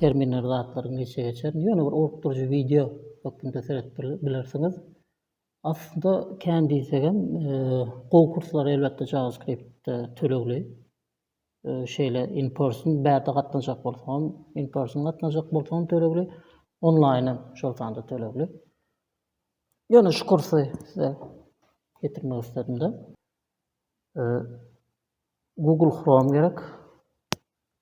Terminleri zatlaryň geçe geçer. Ýöne bir orukdyryjy wideo hökmünde seredip bilersiňiz. Aslynda kän diýsegem e, gowy kurslar elbetde JavaScript tölegli. E, şeýle in person bärde gatnaşjak bolsaň, in person gatnaşjak bolsaň tölegli, onlaýn hem şol sanda tölegli. Ýöne şu kursy size getirmek istedim de. E, Google Chrome gerek.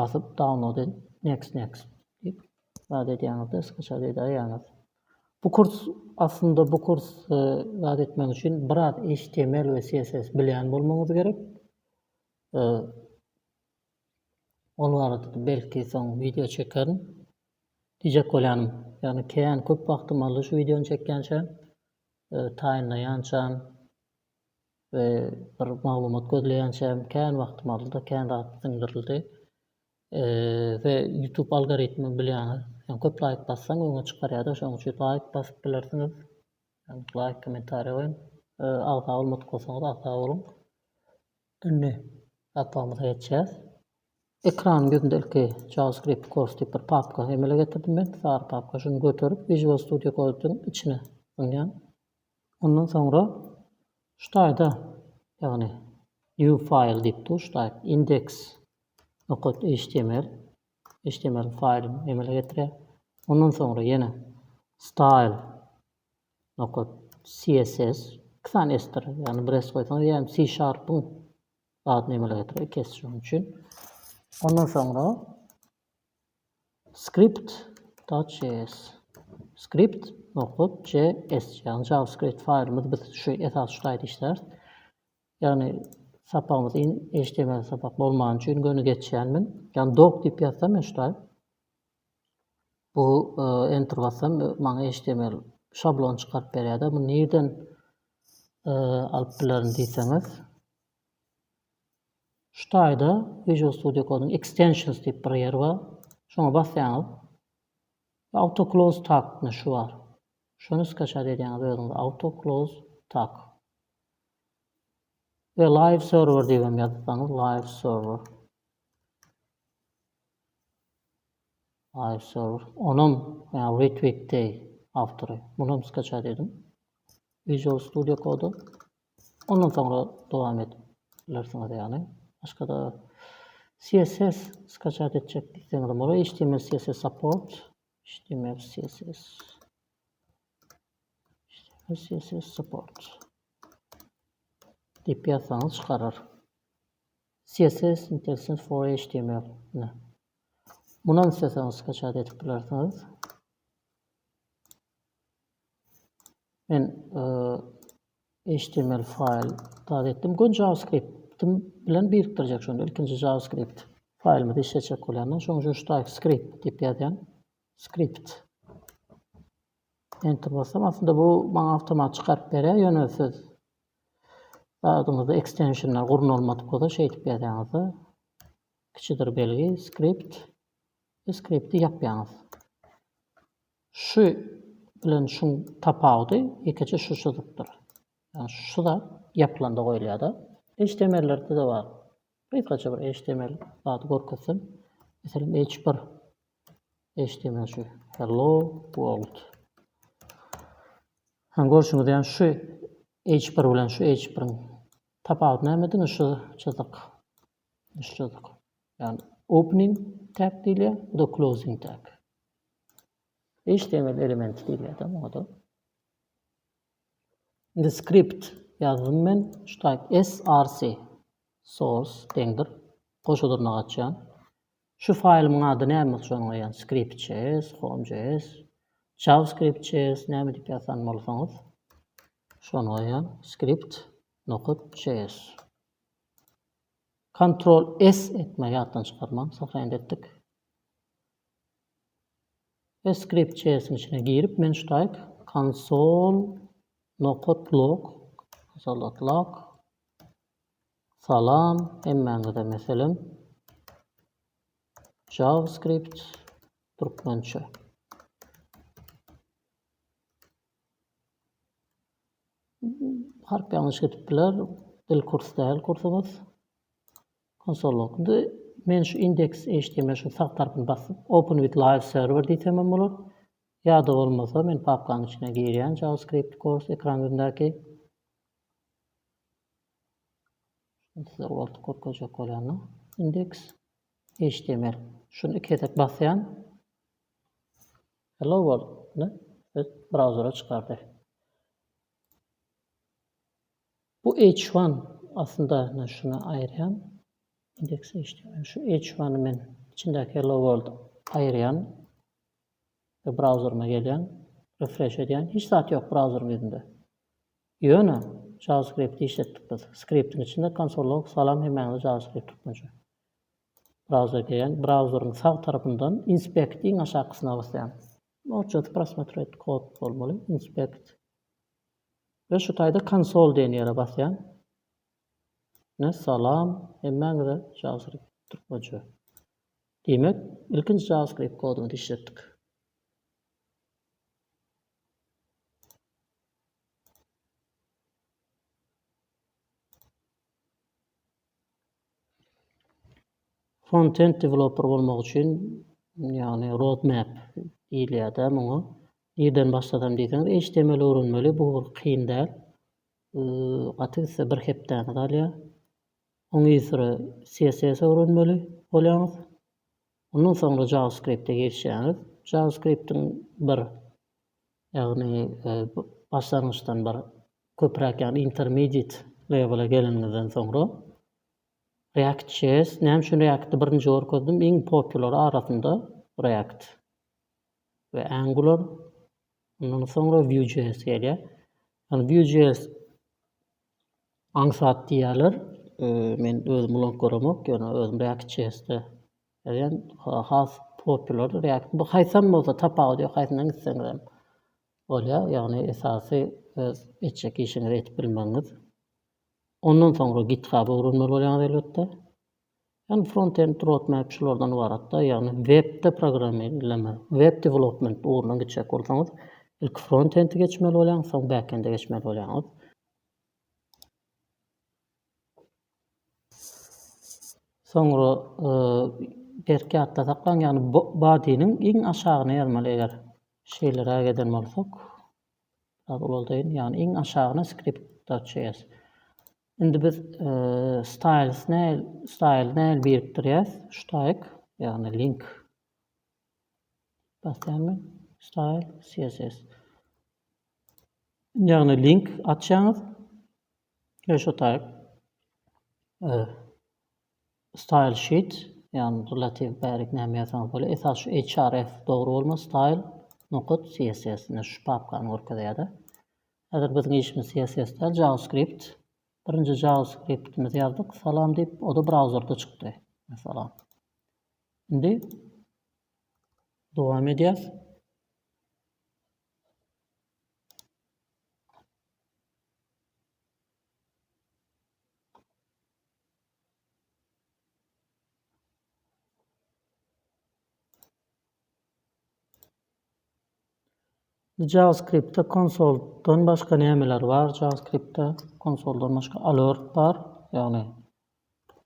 Basyp download et next next diýip zat edýäňizde skçat edäýýäňiz. Bu kurs aslynda bu kurs zat etmek üçin biraz html we css bilýän bolmagyňyz gerek. Ol barada belki soň wideo çekerin. Diýjek bolýanym, ýagny kän köp wagtym aldy şu wideony çekýänçä, taýynlaýançam. we bir maglumat gözleýänçäm kän wagtym aldy-da kän zat siňdirildi. Eee-ze YouTube algoritmi bilýäňiz. Ýöne köp laýk bassaň öňe çykarýar-da şonuň üçin laýk basyp bilersiňiz. Ýöne laýk kommentariýa goýuň. Eee agza bolmadyk bolsaňyz agza boluň. Indi sapagymyza geçýäs. Ekranyň ýüzünde ilki JavaScript Course diýip bir papka emele getirdim men, sary papka. Şuny göterip Visual Studio Code'yň içine zyňýan. Ondan soňra şu taýda, ýagny New file diýip dur, şu taýda index. Html, html faýly emele getirýär. Ondan soňra ýene style. Css, iki sany s-dir, ýagny bir s goýsaňyz ýa hem C-sharp-yň adyny emele getirýär, iki s şonuň üçin. Ondan soňra Script. JS. Script. Nokat. JS. Yani JavaScript faýlymyz biz şu esas şu taýda işläris. Yani sapagymyz in HTML sapak bolman üçin göni geçýänmen. Yani doc diýip ýazsam men şu taýda. Bu e, enter bassam e, maňa HTML şablon çykaryp berýärdi. Bu nirden e, alyp bilerin diýseňiz. Şu taýda Visual Studio Code-yň Extensions diýip bir ýeri bar. Şoňa basýaňyz. Auto Close Tag myşy bar. Şony skaçat edýäňiz özüňiz Auto Close Tag. We Live Server diýip hem ýazsaňyz Live Server. Live Server. Onam Retweet Day awtory. Muny hem skaçat ediň. Visual Studio Code-y. Ondan soňra dowam edip bilersiňiz ýagny başgada CSS skaçat etjek diýseňizem bolar html CSS support html CSS html CSS support diýip ýazsaňyz çykarar CSS intelligent for html ne mundan isteseňiz skaçat edip bilersiňiz Men html faýl dagy etdim. Gön JavaScript-im bilen birikdirjek şonda. Ilkinji JavaScript faýlymyzy işletjek bolýandan. Şoň üçin ştaýk script diýip ýazýan. Script. Enter basam, aslynda bu maňa awtomat çykaryp berýär, ýöne siz adyňyzda ekstensionlar gurnalmadyk bolsa şeýdip ýazýaňyzda kiçidir belgi script skripti ýapýaňyz. Şu bilen şuň tapawudy ýekeje şu çyzykdyr. Ýagny şu zat ýapylanda goýulýar-da. HTML-lerde-de bar. Gysgaça bir HTML zady görkezsem. Meselem H bir HTML şu Hello World. Hany görşüňiz ýaly şu H bir bilen şu H biriň tapawudy näme? Diňe şu çyzyk. Üç sözlük. Yani opening tag diýilýär, bu da closing tag. HTML elementi diýilýär da muňa da. Indi script ýazdym men, şu type src source deňdir. Goşa dyrnak açýan. Şu faýlymyň ady näme üçin goýýan? Script.js, home.js, javascript.js näme diýip ýazan bolsaňyz, şony goýýan. Script.js. Kontrol S etme ýatdan çykarmaň sahyýandy etdik. Ve script js'in içine girip men şutaýk konsol nokat log salat log salam hemmäňize meselem javascript türkmençe Harp ýalňyş gidip biler. Dil kurs däl kursuňyz. Konsolluk. Indi men şu index HTML şu sag tarapyny basyp open with live server diýsem hem bolar. Ýa-da bolmasa men papkanyň içine girýän JavaScript course ekran ýüzündäki. Size ugratdyp görkezjek bolýan-da. Index HTML. Şuny iki gezek basýan. Hello World-ny öz brauzere çykardy. Bu H1 aslynda men şuny aýyrýan. Index HTML. Şu H1-i men içindäki Hello World aýyrýan. Ve brauzeryma gelýän. Refresh edýän. Hiç zat ýok brauzeryň ýüzünde. Ýöne JavaScript-i işletdik biz. Skriptiň içinde konsol log salam hemmäňize JavaScript türkmençe. Browser diýýän, brauzeriň sag tarapyndan Inspect iň aşakysyna basýan. Noçjaz prosmotret kod bolmaly, Inspect. We şu taýda Konsol diýen ýere basýan. Ne salam hemmäňize JavaScript türkmençe. Diýmek, ilkinji JavaScript kodumyzy işletdik. Frontend developer bolmak üçin, ýagny roadmap diýilýär-dä muňa. Nirden başlasam diýseňiz, HTML öwrenmeli, bu bir kyn däl. Gaty gitse bir hepdäňizi alýar. Oňysory CSS öwrenmeli bolýaňyz. Ondan soňra JavaScript-e geçýäňiz. JavaScript-iň bir, ýagny başlangyçdan bir köpräk ýagny intermediate level-e geleniňizden soňra React.js, näme üçin React-i birinji görkezdim, iň popular arasynda React we Angular, ondan soňra Vue.js gelýär. Ýagny Vue.js Aňsat diýýärler. Men özüm ulank göremok, ýöne özüm React JS-de ýazýan. Has popular React. Bu haýsam bolsa tapawudy ýok, haýsyndan gitseňizem bolýar. Ýagny esasy öz etjek işiňizi edip bilmegiňiz. Ondan soňra GitHub-y öwrenmeli bolýaňyz elbetde. Ýagny front-end roadmap şulardan ybaratda, ýagny webde programmirleme, web development ugrundan geçjek bolsaňyz, ilki front-endi geçmeli bolýaňyz, soň back-ende geçmeli bolýaňyz. Soňra berk ýatda saklaň, ýagny body-niň iň aşagyna ýazmaly eger şeýleräk eden bolsak. Biraz ulaldaýyn, ýagny iň aşagyna script.js. Indi biz styles näl style näl birikdirýäs ştaýk ýagny link basýarmy style css ýagny link açýaňyz we şu taýp style sheet ýagny relativ bärik näme ýazsaňyz bol esas şu href dogry bolma style nokat css şu papkany görkezýärdi Häzir biziň işimiz CSS-de JavaScript. Birinji JavaScript-imizi ýazdyk, salam diýip, o-da brauzerde çykdy. Salam. Indi dowam edýäs. JavaScript-de konsoldan başga nämeler bar? JavaScript-de konsoldan başga alert bar. Ýagny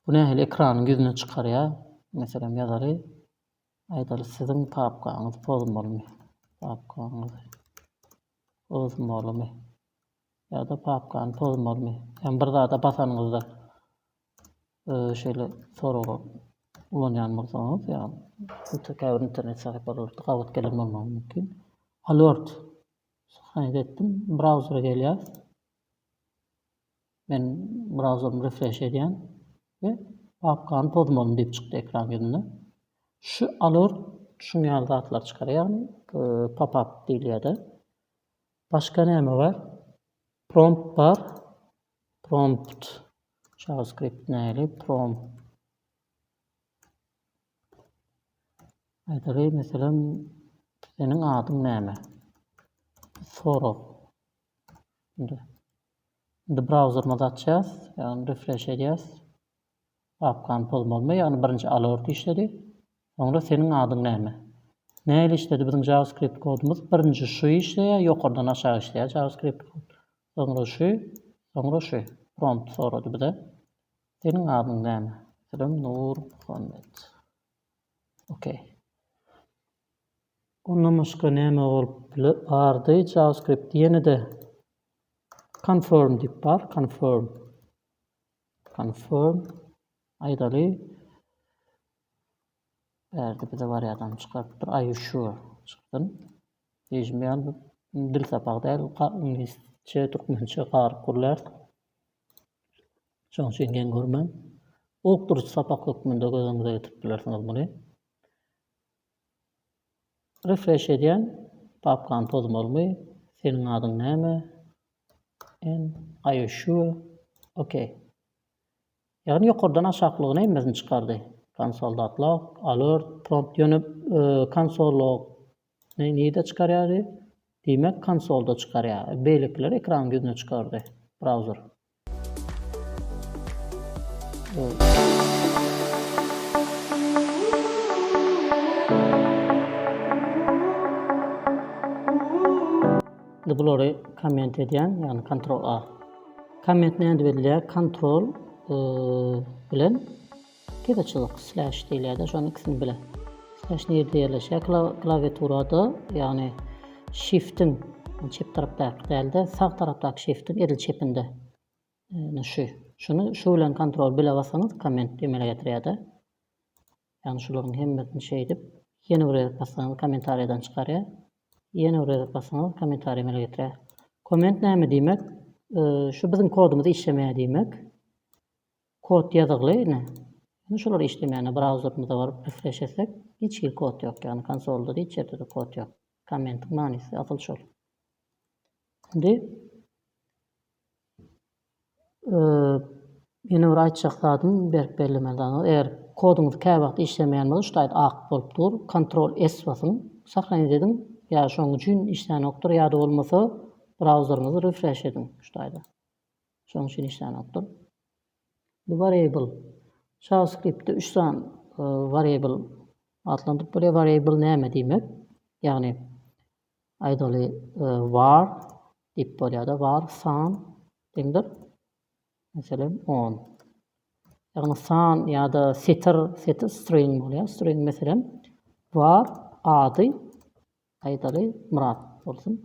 bu nähili ekranyň ýüzüne çykarýar? Meselem ýazaly. Aýdaly siziň papkaňyz pozmalymy? Papkaňyz pozmalymy? Ýa-da papkany pozmalymy? Ýagny bir zada basanyňyzda Şeýle soragy ulanýan bolsaňyz, ýa-da käbir internet sahypalarynda gabat gelen bolmagy mümkin. Alert sahnaýda etdim. Brauzere gelýär. Men brauzerymy refresh edýän we papkany pozmalyn diýip çykdy ekran ýüzünde. Şu alert şuň ýaly zatlar çykarýar, ýagny e, pop-up diýilýär-de. Başga näme bar? Prompt bar. Prompt JavaScript nähili prompt aýdaly meselem seniň adyň näme sorag indi indi brauzerimizi açýas ýagny refresh edýäs papkany pozmalymy ýagny birinji alert işledi soňra seniň adyň näme nähili işledi biziň JavaScript kodumyz birinji şu işleýär ýokardan aşağı işleýär JavaScript kod Soňra şu, soňra şu, prompt sorady bize. Seniň adyň näme? Selam Nurmuhammet. Ok. Ondan başga näme bolup biler? Bardy JavaScript. Ýene-de confirm diýip bar. Confirm. Confirm. Aýdaly. Bärde bize barýadam çykarypdyr. Are you sure? Çykdym. Diýişim ýaly bu dil sapagy däl, iňlisçe, türkmençe garyp gürlär. Şoň üçin geň görmäň. Okduryjy sapak hökmünde göz öňüňize getirip bilersiňiz muny. Refresh edýän, papkany pozmalymy, seniň adyň näme? And are you sure? Okay. Ýagny ýokardan aşaklygy nemesini çykardy. Konsol datlock, alert, prompt ýöne konsol log ny nirde çykarýardy? Diýmek konsolda çykarýar. Beýlekiler ekranyň ýüzüne çykardy. Browser. Indi bulary komment edýän, ýagny kontrol A. Komment nädip edilýär? Kontrol bilen gede çyzyk slash diýilýär-de, şonuň ikisini bile. Slash nirde ýerleşýär? Klawiaturada, ýagny shift-iň çep tarapdaky däl-de, sag tarapdaky shift-iň edil çepinde. Şu, şuny şu bilen kontrol bile bassaňyz komment emele getirýär-de. Ýagny şularyň hemmesini şeýdip ýene bir gezek bassaňyz kommentariýadan çykarýar. Ýene bir gezek bassaňyz kommentariýa emele getirýär. Komment näme diýmek? Şu biziň kodumyz işlemeýär diýmek. Kod ýazygly ine. Indi şular işlemeýär. Brauzerimize baryp refresh etsek, hiç hili kod ýok. Ýagny konsolda hiç ýerde de kod ýok. Kommentiň manysy asyl şol. Indi Ýene bir aýtjak zadym berk bellemeli zat eger koduňyz käwagt işlemeýän bolsa şu taýda ak bolup dur kontrol S basyň sahranit ediň ýa şoň üçin işlänokdyr ýada bolmasa brauzeriňizi refresh ediň şu taýda şoň üçin işlänokdyr. Bu variable JavaScriptde üç sany variable atlandyryp bolýar variable näme diýmek ýagny Aýdaly var diýip bolýar-da, var san deňdir, meselem, on. Ýagny san ýa-da setir, setir string bolýar, string, meselem, var ady, aýdaly, Myrat bolsun.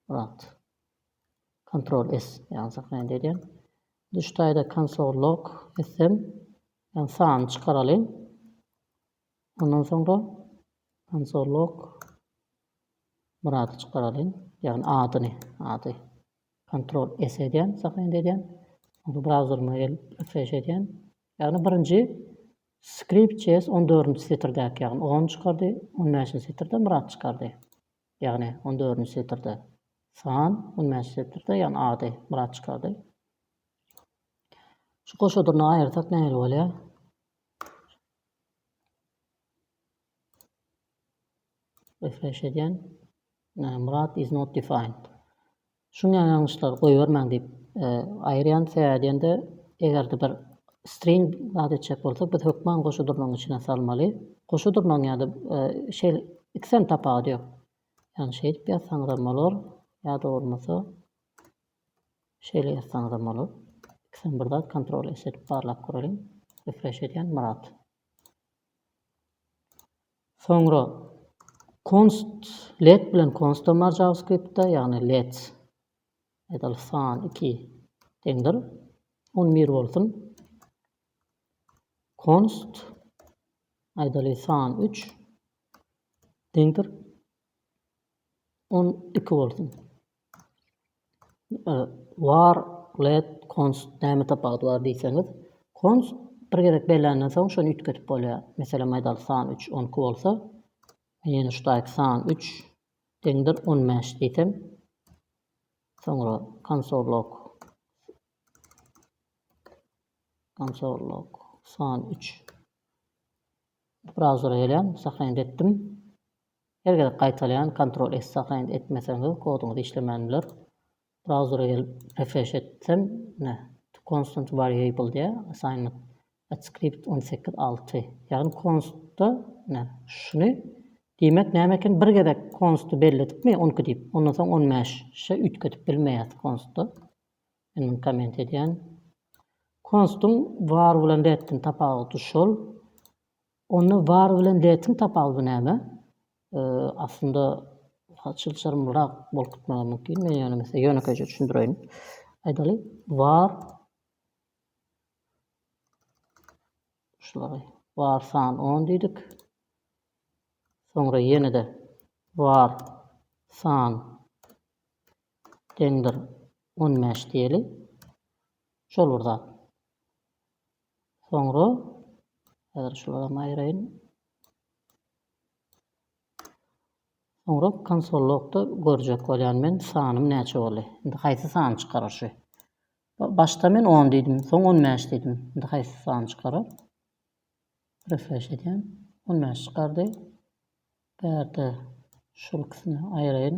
Myrat. Ctrl S ýazsak näme edýär? Düş taýda konsol log etsem, Ýagny sanyny çykaralyň. Ondan soňra konsol log Murady çykaralyň. Ýagny adyny, ady. Ctrl S edýän, sahnaýyny edýän. Onda browserime gelip refresh edýän. Ýagny birinji skript çes 14-nji setirdäki, ýagny on çykardy, 15-nji setirde Murat çykardy. Ýagny 14-nji setirde san, 15-nji setirde ýagny ady Murat çykardy. Şu goşadyny aýyrsak nähili bolýar? Refresh edýän. Murat is not defined. Şu ýalňyşlary goýbermäň diýip e, aýyrýan sebäbi diýende eger-de bir string zat etjek bolsak biz hökman goşa durnagyň içine salmaly. Goşa durnagyň ýa-da e, şeýle ikisem tapawudy ýok. Ýani şeýdip ýazsaňyzam bolar ýa-da bolmasa Şeýle ýazsaňyzam bolar. Ikisem bir zat kontrol S edip barlap göreliň. Refresh edýän Myrat. Soňra const let bilen konstam bar JavaScriptda, ýagny let metal san 2 deňdir. On bir bolsun. Const aýdaly san 3 deňdir. On iki bolsun. War let const näme tapawudy bar diýseňiz, const bir gezek bellenden soň şony üýtgedip bolýar. Meselem aýdaly san üç on iki bolsa, men ýene şutaýk san üç deňdir on bäş diýsem, soňra konsol log konsol log san üç brauzera gelýän, sahraýend etdim. Her gezek gaýtalaýan kontrol et sahranit etmeseňiz koduňyz işlemän biler. Brauzere gelip refresh etsem ine to constant variable diýýär assignment at script on sekiz alty ýagny konstda ine şuny diýmek näme eken bir gezek konsty belledikmi on iki diýip ondan soň on bäş şe üýtgedip bilmeýäs konstda men muny komment edýän konstuň var bilen reddiň tapawuty şol Onda bar bilen detiň tapawudy näme? Aslynda çylşyrymlyrak bolup gitmegi mümkin. Men ýöne size ýönekeýje düşündireýin. Aýdaly, bar şulary bar san 10 diýdik. Soňra ýene-de bar san deňdir 15 diýeli. Şol bir zat. Soňra häzir şularam aýyraýyn. Soňra konsol logda görjek bolýan men sanym näçe boldy. Indi haýsy sany çykarar şu? Başda men 10 diýdim, soň 15 diýdim. Indi haýsy sany çykarar? Refresh edýän. 15 çykardy. Bärde şul ikisini aýyraýyn.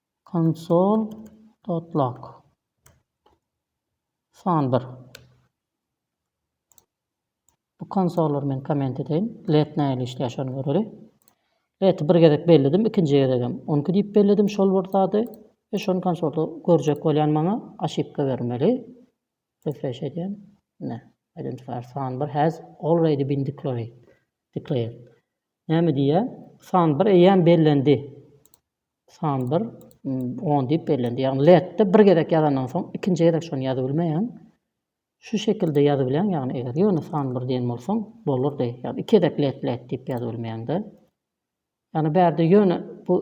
Konsol dotlak. San bir. Bu konsollary men komment edeýin. Let nähili işleýär şony göreli. Leti bir gezek belledim, ikinji gezegem on iki diýip belledim şol bir zady. Ve şony konsolda görjek bolýan maňa aşypka bermeli. Refresh edýän. Ne. Identifier san bir has already been declared. Declared. Näme diýýär? San bir eýýäm bellendi. San bir, on diýip bellendi. Ýagny letde bir gezek ýazandan soň ikinji gezek şony ýazybilmeýäň. Şu şekilde ýazybilýäň, ýagny eger ýöne san bir diýen bolsaň bolardy. Ýagny iki gezek let let diýip ýazybilmeýäňde. Ýagny bärde ýöne bu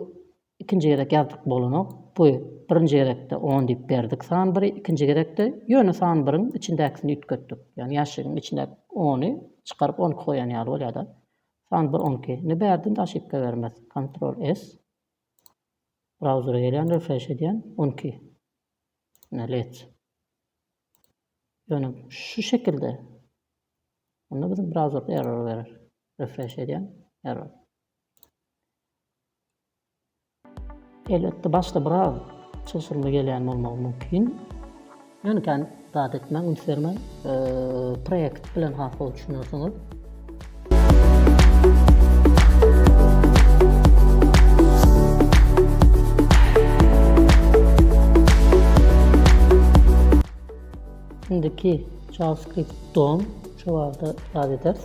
ikinji gezek ýazdyk bolanok. Bu birinji gezekde on diýip berdik san biri, ikinji gezekde ýöne san biriň içindäkisini üýtgetdik. Ýagny ýaşigiň içindäki ony çykaryp on iki goýan ýaly bolýar-da. San bir on iki ni bärden de oşipka bermez. Kontrol S. Brauzere gelýän refresh edýän on iki. Ine lets. Ýöne şu şekilde. Onda biziň brauzerde error berer. Refresh edýän error. Elbetde başda biraz çylşyrymly gelýän bolmagy mümkin. Ýöne kän zat etmäň, üns bermäň, proýekt bilen has gowy düşünersiňiz. Indiki JavaScript-don şu barada zat ederis.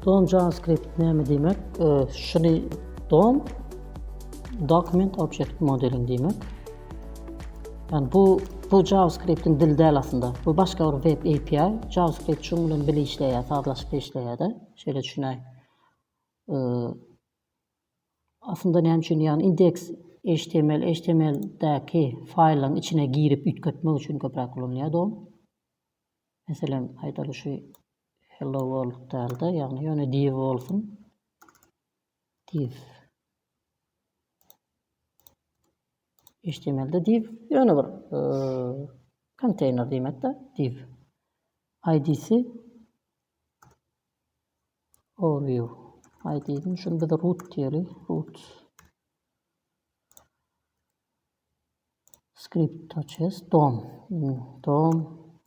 Dom JavaScript näme diýmek? Şuny dom document object modeling diýmek. Yani bu bu JavaScript'in dil däl aslında. Bu başga bir web API. JavaScript şuň bilen bile işleýär, sazlaşykly işleýär-de. Şeýle düşünäý. Ee, aslında näme üçin ýagny index HTML, HTML-däki faýlyň içine girip üýtgetmek üçin köpräk ulanylýar dom. Meselem, aýdaly şu Hello World dälde ýagny ýöne Div bolsun. Div. HTML-de div ýöne bir e, konteýner diýmekde div. ID-si overview. ID-ni şunu biz root diýeli. Root. Script to chess dom dom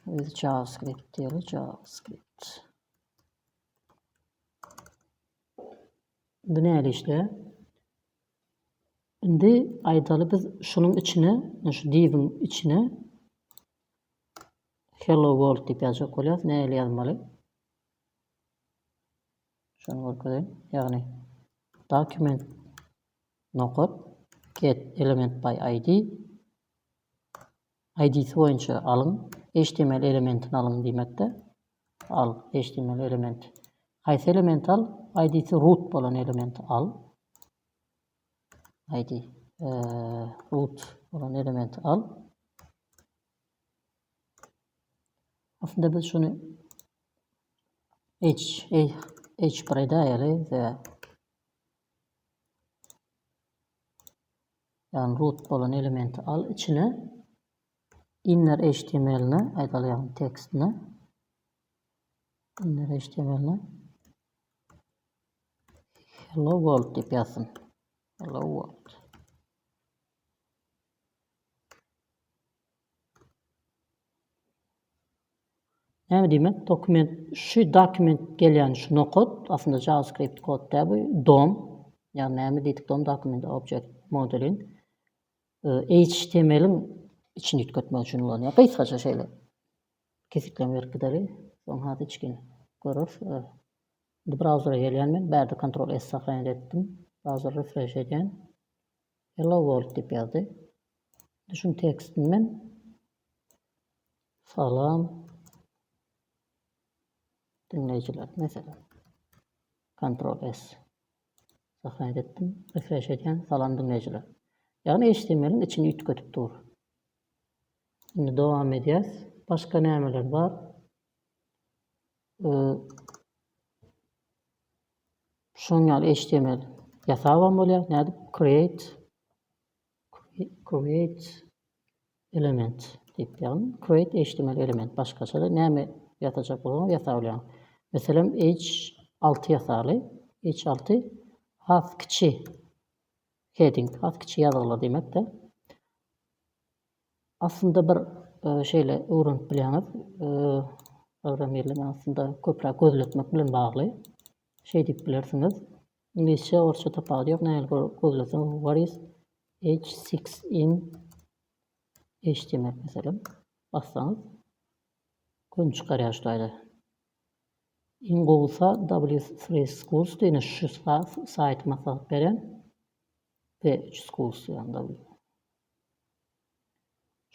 with javascript diýeli javascript. Indi näle işle? Indi aýdaly biz şunuň içine, şu diviň içine hello world diýip ýazjak bolýarys. Näle ýazmaly? Şuny görkezeýin. Ýagny document Nokat, get, element by ID, ID-si boýunça alyň, html elementini alyň diýmekde, al, html elementi. Haýsy elementi al? ID-si root bolan elementi al. ID, root bolan elementi al. Aslında biz şunu H, H, H bir edayeli ve Ýagny root bolan elementi al içine inner html ne aýdaly ýagny tekst ne inner html ne hello world diýip ýazsyn. Hello world. Näme diýmek dokument şu dokument gelýän şu nokod aslynda javascript kod däl bu dom ýagny näme diýdik dom dokument object modulin htmlin içini üýtgetmek üçin ulanýar gysgaça şeýle kesgitleme berip gideli soň has içgin göreris indi brauzere gelýän men bärde kontrol s sahyýany etdim brauzere refresh edýän Hello world diýip ýazdy. Indi şuň tekstini men Salam diňleýjiler meselem. Ctrl S. Sahnaýt etdim. Refresh edýän. Salam diňleýjiler. Ýagny HTML-iň içini üýtgedip dur. Indi dowam edýäs. Başga nämeler bar? Şunuň ýaly html ýasabam bolýar. Nädip? Create create element diýip ýazyn. Create html element başgaça-da näme ýazajak bolsaňyz ýasap bolýar. Meselem H6 ýasaly. H6 has kiçi heading, has kiçi ýazgylar diýmek-de. Aslynda bir şeýle öwrenip bilýäňiz. Programmirligi aslynda köpräk gözletmek bilen bagly. Şeý diýip bilersiňiz. Iňlisçe, orsça tapawudy ýok. Nähili gözleseňiz what is h6 in html meselem bassaňyz gün çykarýar şu taýda. Iň gowusa W3 Schools diýne şu saýty maslahat berýän. P3 Schools ýagny W.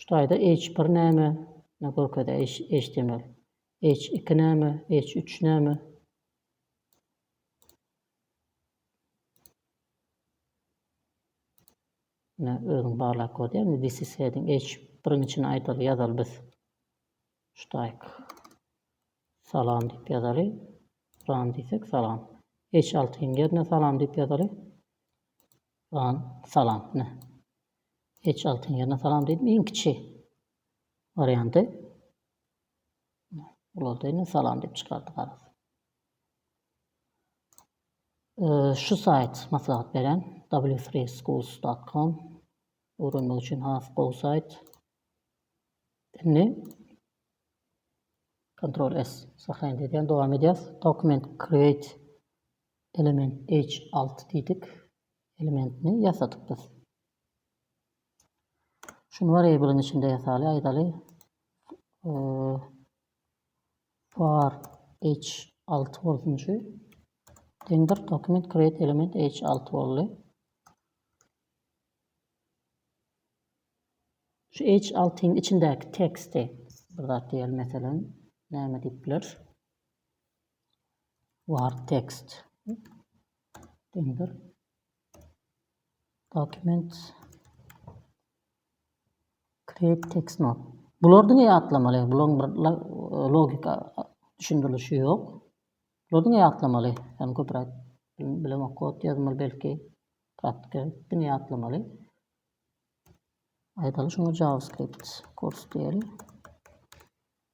Şu taýda H bir näme ne görkezýär html. H iki näme H üç näme. Ine özüň barlap görýär indi this is heading H biriň içine aýdaly ýazaly biz. Şu taýk. Salam diýip ýazaly. Run diýsek salam. H altyň ýerine salam diýip ýazaly. Salam salam ine H altyn ýerine salam diýdim iň kiçi warianty ulaldy indi salam diýip çykardy garaz. Şu saýt maslahat beren w3schools.com öwrenmek üçin has gowy saýt. Indi Ctrl S sahyny diýen dowam edýäs. Document create Element H alty diýdik. Elementini ýasadyk biz. Şuny variablyň içinde ýasaly, aýdaly. Var H alty bolsun şu. Deňdir dokument create element H alty boldy. Şu H altyň içindäki teksti bir zat diýelim, meselem, näme diýip bileris? Word text. Döndür. Documents. Create text not. Bular diňe ýatlamaly. Bularyň bir logika düşündirilişi ýok. Bular diňe ýatlamaly. Ýani köpräk bilemok kod ýazmaly belki. Praktika diňe ýatlamaly. Aýdaly şuňa JavaScript kurs diýeli.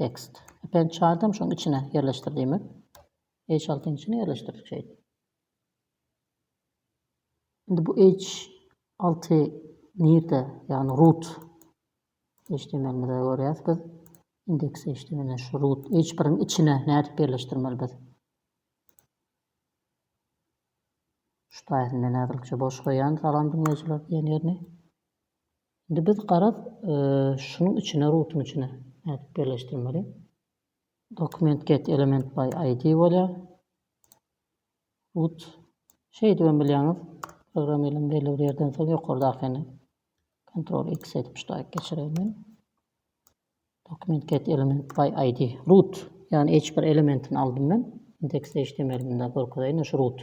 Tekst. Epen çaýdam şoň içine ýerleşdir diýmek. H altynyň içine ýerleşdirdik şeýt. Indi bu H alty nirde? Ýagny root HTML-imizde görýäs biz. Indeks HTML-de şu root H biriň içine nädip ýerleşdirmeli biz? Şu taýyny men häzirlikçe boş goýýan salam diňleýjiler diýen ýerini. Indi biz garaz şunuň içine rutuň içine nädip birleşdirmeli? Dokument get element by ID bolýar. Rut şeýdip hem bilýäňiz. Programma elim belli bir ýerden soň ýokardakyny Ctrl X edip ştaýk geçireýin. Dokument get element by ID. Rut, ýagny hiç bir elementini aldym men. Index HTML-inde görkezeýin şu rut.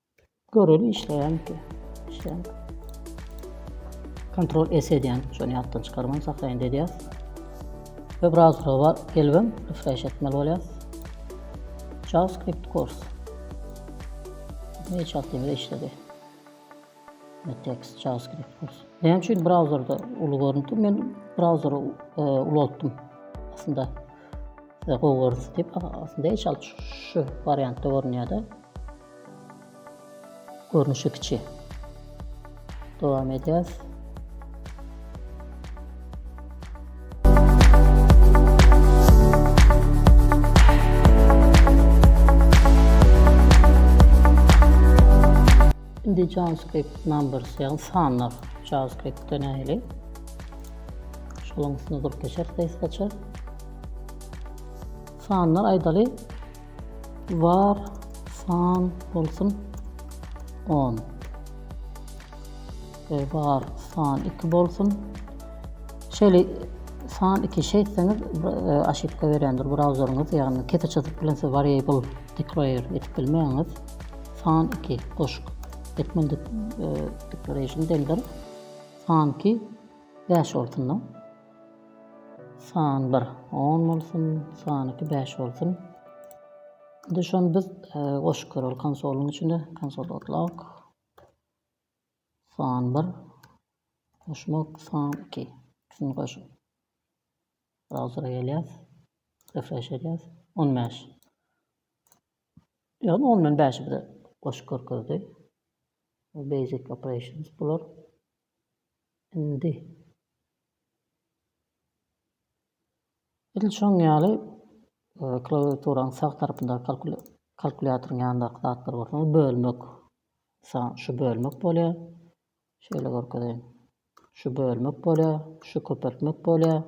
Göreli işleýänki. Işleýän. Kontrol S edýän, şony ýatdan çykarman saklaýyn edýär. Ve brauzerova gelibem refresh etmeli bolýar. JavaScript kurs. Ne çatdymda işledi. Ne text JavaScript kurs. Näme üçin brauzerde uly görüntü? Men brauzeri e, ulaltdym. Aslında Size gowy görünsin diýip, aslynda hiç al şu wariantda görünýär-de. Görnüşi kiçi. Dowam edýäs. Indi JavaScript numbers, ýagny sanlar JavaScript-de nähili? Şolaň üstüne durup geçeris, space açar. Sanlar aýdaly var san bolsun on e, var san iki bolsun şeýle san iki şey etseňiz e, aşypka berendir brauzeryňyz ýagny kete çyzyp bilen siz variable declare etip bilmeýäňiz san iki goşuk etmeli e, declaration dendir san iki bäş bolsun San bir on bolsun, san iki bäş bolsun. Indi şony biz e, goşup göreli konsolyň içinde. Konsol otlog. San bir. Goşmak san iki. Şunu goşup. Browser'a gelýäs. Refresh edýäs. 15. Ýagny ondan bäşi bize goşup görkezdi. Basic operations bular. Indi Edil şonuň ýaly, klawiaturanyň sag tarapyndaky kalkulýatoryň ýanyndaky zatlary bolsaňyz bölmek, mysal, şu bölmek bolýar. Şeýle görkezeýin. Şu bölmek bolýar, şu köpeltmek bolýar.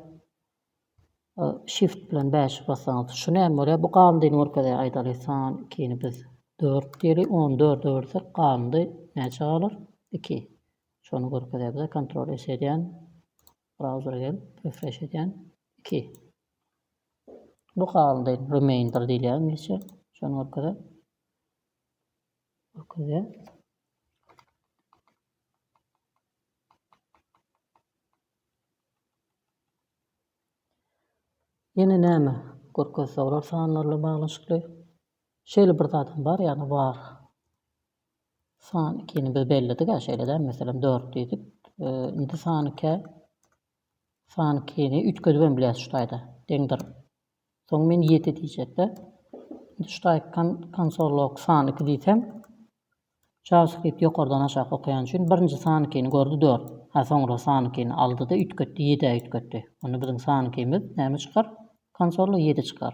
Shift bilen 5 bassaňyz, şu näme bolýar? Bu galyndyny görkezýär. Aýdaly, san 2-ni biz 4 diýeli, 14-e bölsek galyndy näçe galar? 2. Şony görkezýär bize kontrol S edýän brauzera gelip refreş edýän iki bu halynda remainder diýilýär inglizçe şony görkezýär görkezýär Ýene näme görkezse olar sanlarla baglaşykly. Şeýle bir zadam bar, ýagny var. San ikini biz belledik-ä, şeýle däl, meselem, dört diýdik. Indi san ikä, san ikini üýtgedip hem bilýäs şu taýda, deňdir. Soň men ýedi diýjek-de. Indi şu taýy kon, konsol log san iki diýsem, JavaScript ýokardan aşak okaýan üçin birinji san ikini gördi, dört. Hä, soňra san ikini aldy-da üýtgetdi, ýedä üýtgetdi. Onda biziň san ikimiz näme çykar? Konsolda ýedi çykar.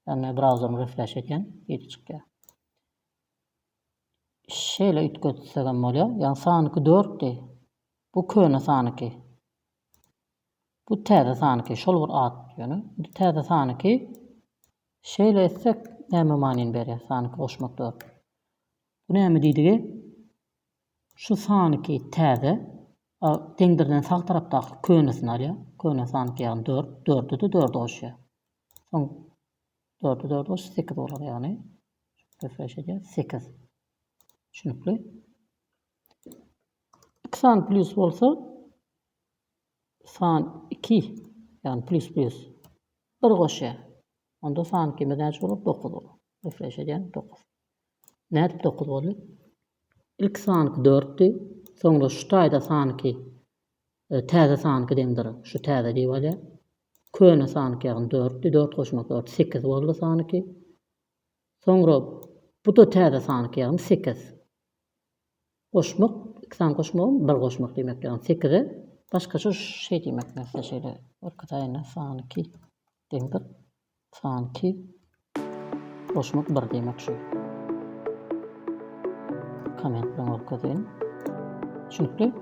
Ýagny men brauzerimi refresh edýän, ýedi çykýar. Şeýle üýtgetsegem bolýar. Ýa sanyky dörtdi. Bu köne sanyky. Bu täze sanyky. Şol bir at ýöne. Indi täze sanyky. Şeýle etsek näme manyny berýär sanyky goşmak dört. Bu näme diýdigi? Şu sanyky täze a deňdirden sag tarapdaky könesini alýar. Köne sanyky ýagny dört. Dörde-de dördi goşýar. Soň Dörde dört goş sekiz bolar ýagny. Refresh edýär. Sekiz. Düşünikli. İki sany plus bolsa san iki ýagny plus plus bir goşýar. Onda san ikimiz näçe bolar? Dokuz bolar. Refresh edýän dokuz. Nädip dokuz boldy? İlk sanki dörtdi. Soňra şu taýda sanki Täze san iki deňdir. Şu täze diýip alýar. Köne san iki ýagny dörtdi. Dört goşmak dört sekiz boldy san iki. Soňra bu-da täze san iki ýagny sekiz. Goşmak iki san goşmagam bir goşmak diýmek ýagny sekize başgaça şeý diýmek nätse şeýle bir iki taýyna san iki deňdir. Sanki goşmak bir diýmek şu. Komment bilen görkezeýin. Düşünikli?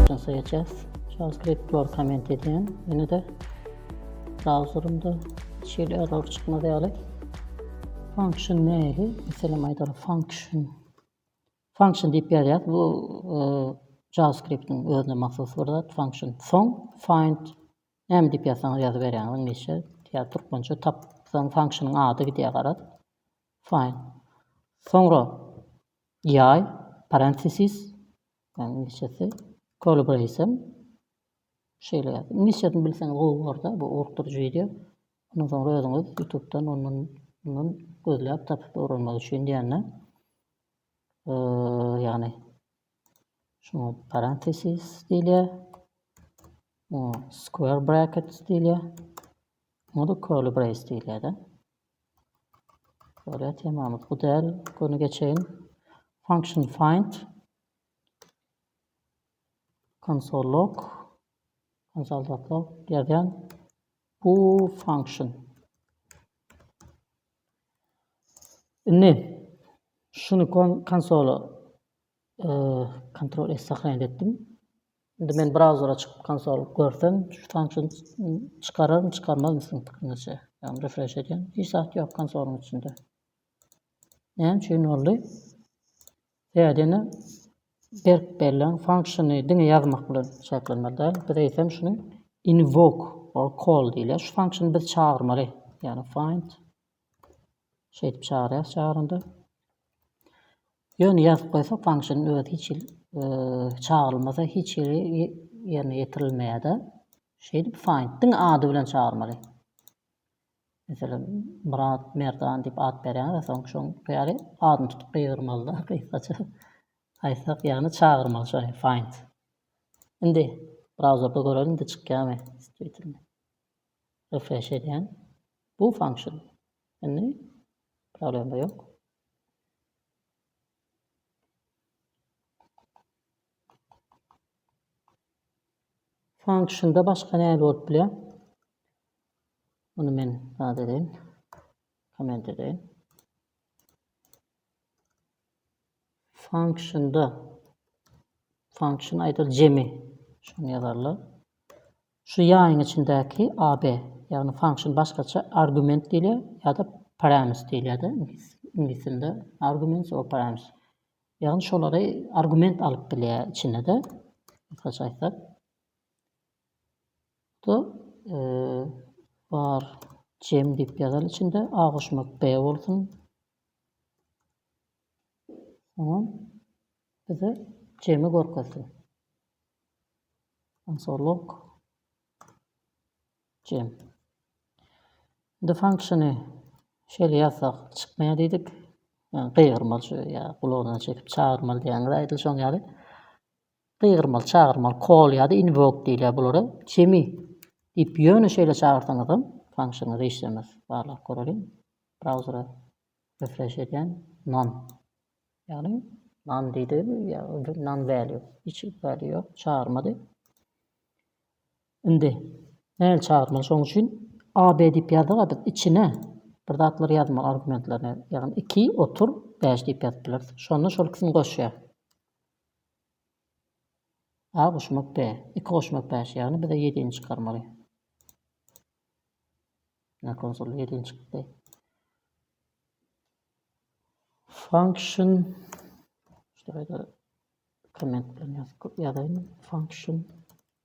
Şansa geçeceğiz. JavaScript var komment edeyim. Yine de Browserinde şeýle error çykmaz ýaly. Function nähili? Meselem aýdaly function. Function diýip ýazýas. Bu e, JavaScript-iň özüne mahsus bir zat. Function soň find näme diýip ýazsaňyz ýazyp berýäňiz inglizçe. Ýa türkmençe tapsaň function-yň ady gidýär garaz. Find. Soňra ýay parenthesis inglizçesi collaboration Şeýle ýazdy. Iňlis ýazyny bilseňiz gowy bolarda bu ogurtdyryjy wideo. Ondan soňra özüňiz ýutubdan ondan mundan gözläp tapyp öwrenmek üçin diýende ýagny şuňa parentesis diýilýär. Muňa square brackets diýilýär. Muňa da curly brace diýilýär-de. Şöyle temamyz bu däl. Göni geçeýin. Function find. Konsollok, konsoldatlok ýazýan bu function. Indi şuny konsola kontrol S saklaýan etdim. Indi men brauzera çykyp konsol görsem, şu function çykararmy, çykarmazmy siziň pikiriňizçe? Ýagny refresh edýän, hiç zat ýok konsoluň içinde. Näme üçin boldy? Täzeden berk belleň function-y diňe ýazmak bilen çäklenmeli däl. Biz eýsem şuny invoke or call diýilýär. Şu function-y biz çagyrmaly. Ýagny find şeýdip çagyrýas çagyranda. Ýöne ýazyp goýsak function özi hiç hili çagyrylmasa hiç hili ýerine ýetirilmeýär-de. Şeýdip find diňe ady bilen çagyrmaly. Meselem, Myrat, Merdan diýip at berýäňiz-ä, soň şoň ýaly adyny tutup gygyrmaly-da, gysgaça aýtsak, ýagny çagyrmaly şony, find. Indi brauzerde göreliň-de çykýarmy, stwitermi. Refresh edýän. Bu function. Indi problema ýok. Function-da başga näme bolup bilýär? Muny men zat edeýin. Komment edeýin. Function-da function aýdyl jemi şuny ýazarlar. Şu ýaýyň içindäki AB, ýagny function başgaça argument diýilýär ýa-da parametr diýilýär-de, iňlis dilinde argument or parametr. Ýagny şolary argument alyp bilýär içine-de. Gysgaça aýtsak. Bu var cem diýip ýazaly içinde A goşmak B bolsun. Soňam bize cemi görkezsin. Ansorlog Jim. Indi function-y şeýle ýazsak çykmaýar diýdik. Ýa gygyrmaly şu ýa gulagyna çekip çagyrmaly diýýäňiz-a edil şoň ýaly. Gygyrmaly, çagyrmaly, call ýa-da invoke diýilýär bulara. Jimmy diýip ýöne şeýle çagyrsaňyzam function-yňyz işlemez. Barlag göreliň. Browser-a refresh edýän. None. Ýagny none diýdi ýa none value. Hiç value ýok, çagyrmady. Indi nähili çagyrmaly şoň üçin AB diýip ýazygadyk içine bir zatlar ýazmaly argumentlerini ýagny iki otur bäş diýip ýazyp bileris şonda şol ikisini goşýar. A goşmak B iki goşmak bäş ýagny bize ýedini çykarmaly. Ne konsul ýedini çykdy. Function şurada komment bilen ýazyp ýazaýyn function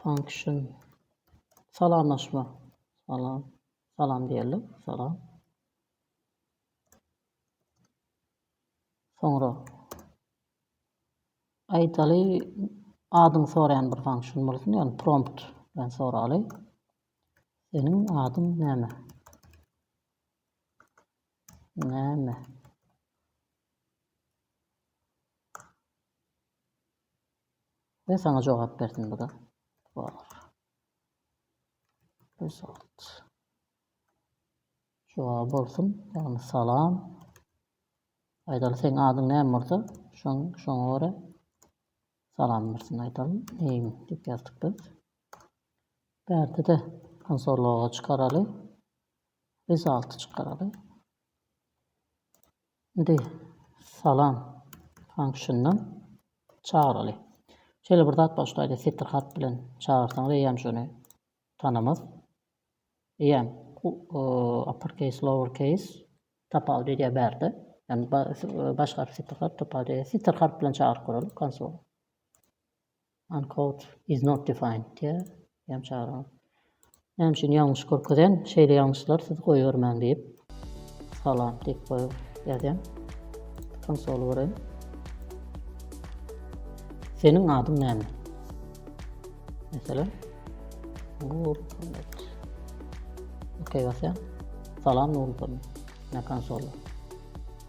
Function. Salamlaşma. Salam. Salam diýeli. Salam. Soňra aýdaly adyň soraýan bir function bolsun, ýagny prompt bilen soraly. Seniň adyň näme? Näme? Men saňa jogap berdim bu-da. Bar. Result. Jogap bolsun. Ýagny salam. Aýdaly seň adyň näme bolsa, şoň şoňa görä salam bersin aýdaly. Name diýip ýazdyk biz. Bärde-de konsol logo çykaraly. Result çykaraly. Indi salam function-dan çagyraly. Şeýle bir zat bar, şu taýda setir hat bilen çagyrsaňyz eýýäm şony tanamaz. Eýýäm uppercase, lowercase tapawudy edýär bärde. Ýani baş harp, setir harp tapawudy edýär. Setir harp bilen çagyryp görelim konsol. Uncode is not defined diýýär. Ýam çagyryň. Näme üçin ýalňyş görkezen? Şeýle ýalňyşlar siz goýbermäň diýip. Salam diýip goýup ýazýan. Konsoly göreýin. Seniň adyň näme? Meselem. Nur Muhammet. Okey basýan. Salam Nur Muhammet. Ne konsoly.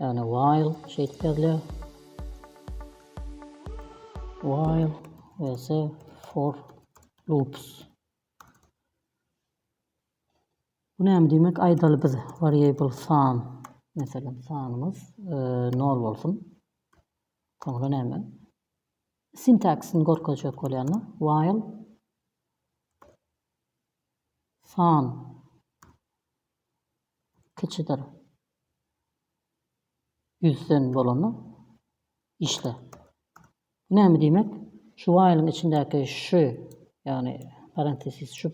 Ýagny while şeýdip ýazylýar. While else for loops. Bu näme diýmek? Aýdaly biz variable san, meselem sanymyz 0 bolsun. Soňra näme? Sintaksini görkezjek bolýanlar. While san Kiçidir. Ýüzden bolanda işle. Bu näme diýmek? Şu while-iň içindäki şu, ýagny parentesis şu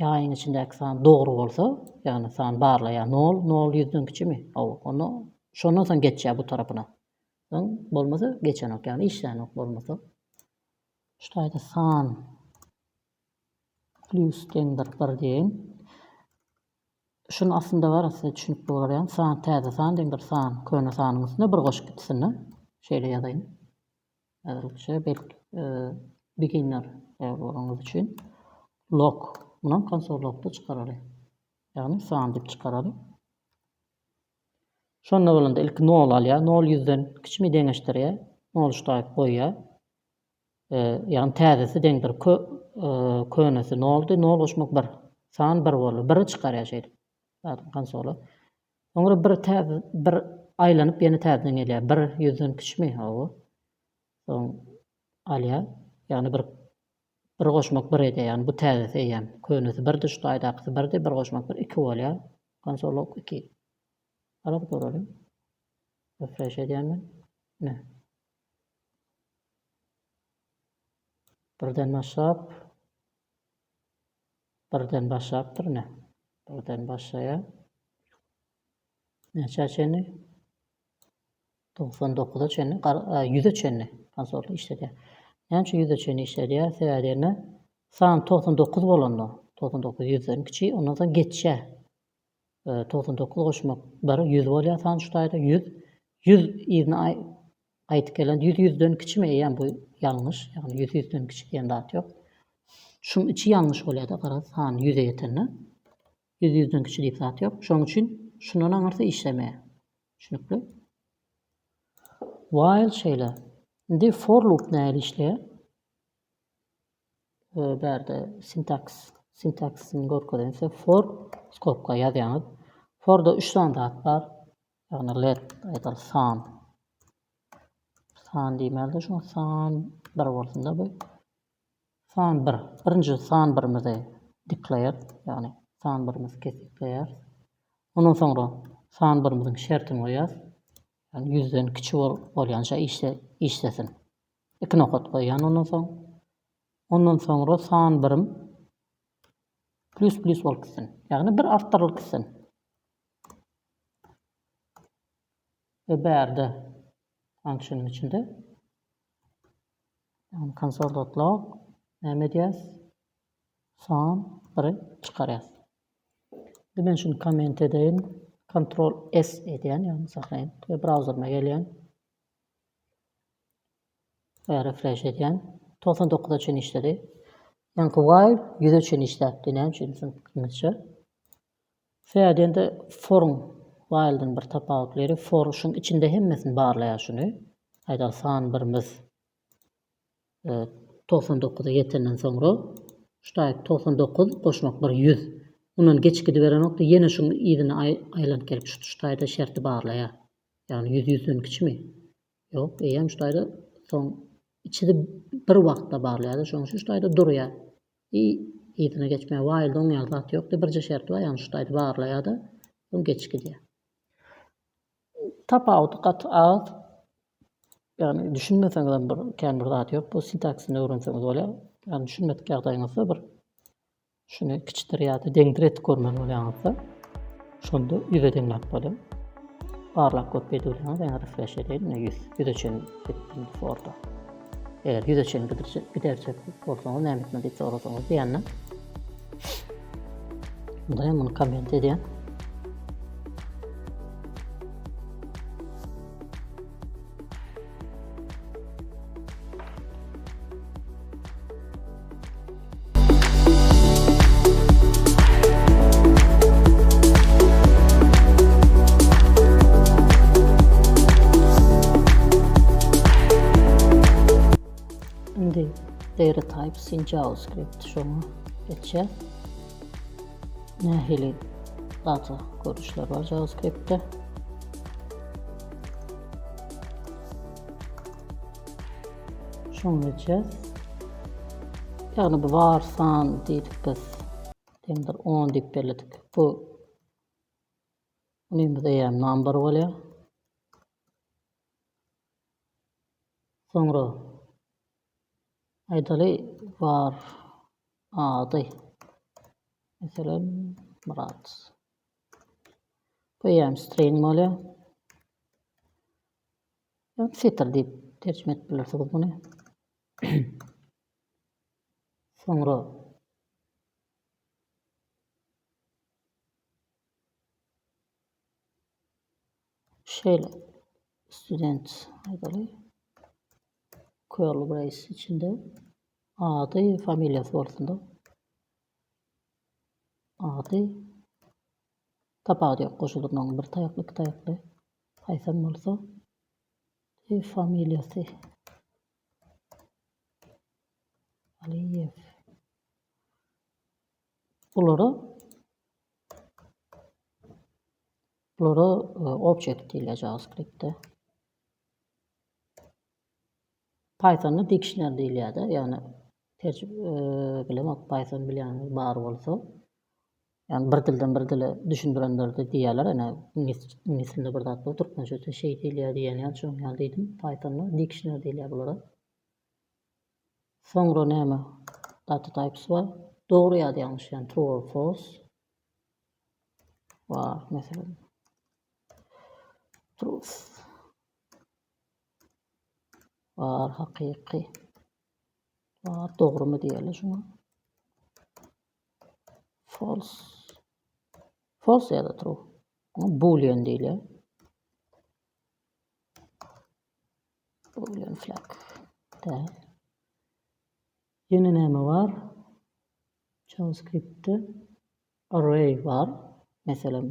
ýaýyň içindäki san dogry bolsa, ýagny san barlaýar, nol, nol ýüzden kiçimi? Hawa, onda şondan soň geçýär bu tarapyna. Soň bolmasa geçenok, ýagny işlänok bolmasa. Şu taýda san plyus deňdir bir diýeýin. Şuny aslynda bar size düşünip bolar ýaly san täze san diýen bir san köne sanyň üstüne bir goşup ikisini şeýle ýazaýyn. Äzirlikçe belki beginner bolanyňyz üçin log munam konsol logda çykaraly. Ýagny san diýip çykaraly. Şonda bolanda ilki nol alýar. Nol ýüzden kiçimi deňeşdirýär. Nol ştaýk goýýar. Ýagny täzesi deňdir kö könesi noldy nol goşmak bir san bir boldy biri çykarýar şeýdip zadyň konsoly soňra bir täze bir aýlanyp ýene täzeden gelýär bir ýüzden kiçmi hawa soň alýar ýagny bir bir goşmak bir edýär ýagny bu täzesi eýýäm könesi birdi şu taýdakysy birdi bir goşmak bir iki bolýar konsol ok iki ara guralyň refreş edýän men ine. Birden başlap, birden başlapdyr ine. Birden başlaýa. Näçä çenli? Togsan dokuza çenli, ýüze çenli pansorly işledýär. Näme üçin ýüze çenli işledýär? Sebäbi diýende, san togsan dokuz bolanda, togsan dokuz ýüzden kiçi, ondan soň geçýär. Togsan dokuz goşmak bir, ýüz bolýar sany şu taýda, ýüz. Ýüz yzyna gaýdyp gelende ýüz ýüzden kiçimi eýýäm bu ýalňyş, ýagny ýüz ýüzden kiçi diýen zat ýok. Şuň içi ýalňyş bolýar-da garaz san ýüze ýetende. Ýüz ýüzden kiçi diýip zat ýok. Şoň üçin şundan aňyrsy işlemeýär. Düşünikli? While şeýle. Indi for loop nähili işleýär? Bärde sintaks, sintaksini görkezen size for skobka ýazýaňyz. Forda üç sany zat bar. Ýagny let, aýdaly san. San diýmäli şu san bir bolsun da bu. San bir. Birinji san birimizi declare, ýagny san birimizi kesgitleýär. Ondan soňra san birimiziň şertini goýýar. Ýagny 100-den kiçi bolýança işlesin. Iki nokat goýýan ondan soň. Ondan soňra san birim plus plus bolup gitsin. Ýagny bir artdyrylyp gitsin. Ve bärde function içinde yani console.log näme edýäs? San biri çykarýas. Indi men şuny komment edeýin. Ctrl S edýän, ýagny saklaýyn ve brauzerime gelýän. Refresh edýän. Togsan dokuza çenli işledi. Ýaňky while ýüze çenli işläpdi. Näme üçin? Düşünmemişçe. Fädende forun while-den bir tapawutlyry. For şuň içinde hemmesini barlaýar şuny. Aýdaly san birimiz. Togsan dokuza ýetenden soňra ştaýt togsan dokuz goşmak bir ýüz. Mundan geçip gidiberenokda ýene şuň yzyna aýlanyp gelip şu ştaýda şerti barlaýar. Ýagny ýüz ýüzden kiçimi? Ýok, eýýäm ştaýda soň içidi bir wagtda barlaýarda şoň üçin ştaýda durýar. I yzyna geçmeýär. Waýlda oň ýaly zat ýokda birje şerti bar ýagny ştaýdy barlaýarda soň geçip gidýär. Tapawudy gaty az. Ýagny düşünmeseňizem bir kän bir zat ýok bu sintaksini öwrenseňiz bolýar. Ýagny düşünmedik ýagdaýyňyzda bir şuny kiçdir ýa-da deňdir etip görmeli bolýaňyzda şonda ýüze deňläp bolýar. Barlap görüp edip bilýäňiz ýa refresh edeýin ýüz ýüze çenli etdim forda. Eger ýüze çenli gidirjek, giderjek bolsaňyz näme etmeli diýip sorasaňyz diýende. Bunda hem bunu komment edýän. data types in JavaScript şoňa geçer. Nähili data görüşler bar JavaScript-de? Şuny etjäs. Ýagny bu bar san diýdik biz. Deňdir 10 diýip belledik. Bu Buny biz eýäm number bolýar. Soňra aýdaly bar ady. Meselem, Murat. Bu hem string bolýar. Setir diýip terjime edip bilersigiz muny. Soňra şeýle student aýdaly curly brace içinde ady, familiýasy bolsun-da. Ady, Tapawudy ýok goşulyp maňa bir taýakly iki taýakly haýsam bolsa Eý familiýasy Aliýew Bulara Bulara object diýilýär JavaScriptde. Pythonda dictionary diýilýärde, ýagny bilemok python bilýäňiz bar bolsa. Ýagny bir dilden bir dile düşündirenlerdi diýýärler, ene iňlis dilinde bir zat bar, türkmençe de şeý diýilýär diýen ýaly şonuň ýaly diýdim. Pythonda dictionary diýilýär bulara. Soňra näme? Data types bar. Dogry ýa-da ýalňyş, ýagny true or false. Bar, meselem. Truth. Bar hakyky. Bar dogrymy diýeli şuňa. False. False ya da true. Boolean diýeli. Boolean flag. Däl. Ýene näme bar? JavaScriptde Array bar, meselem,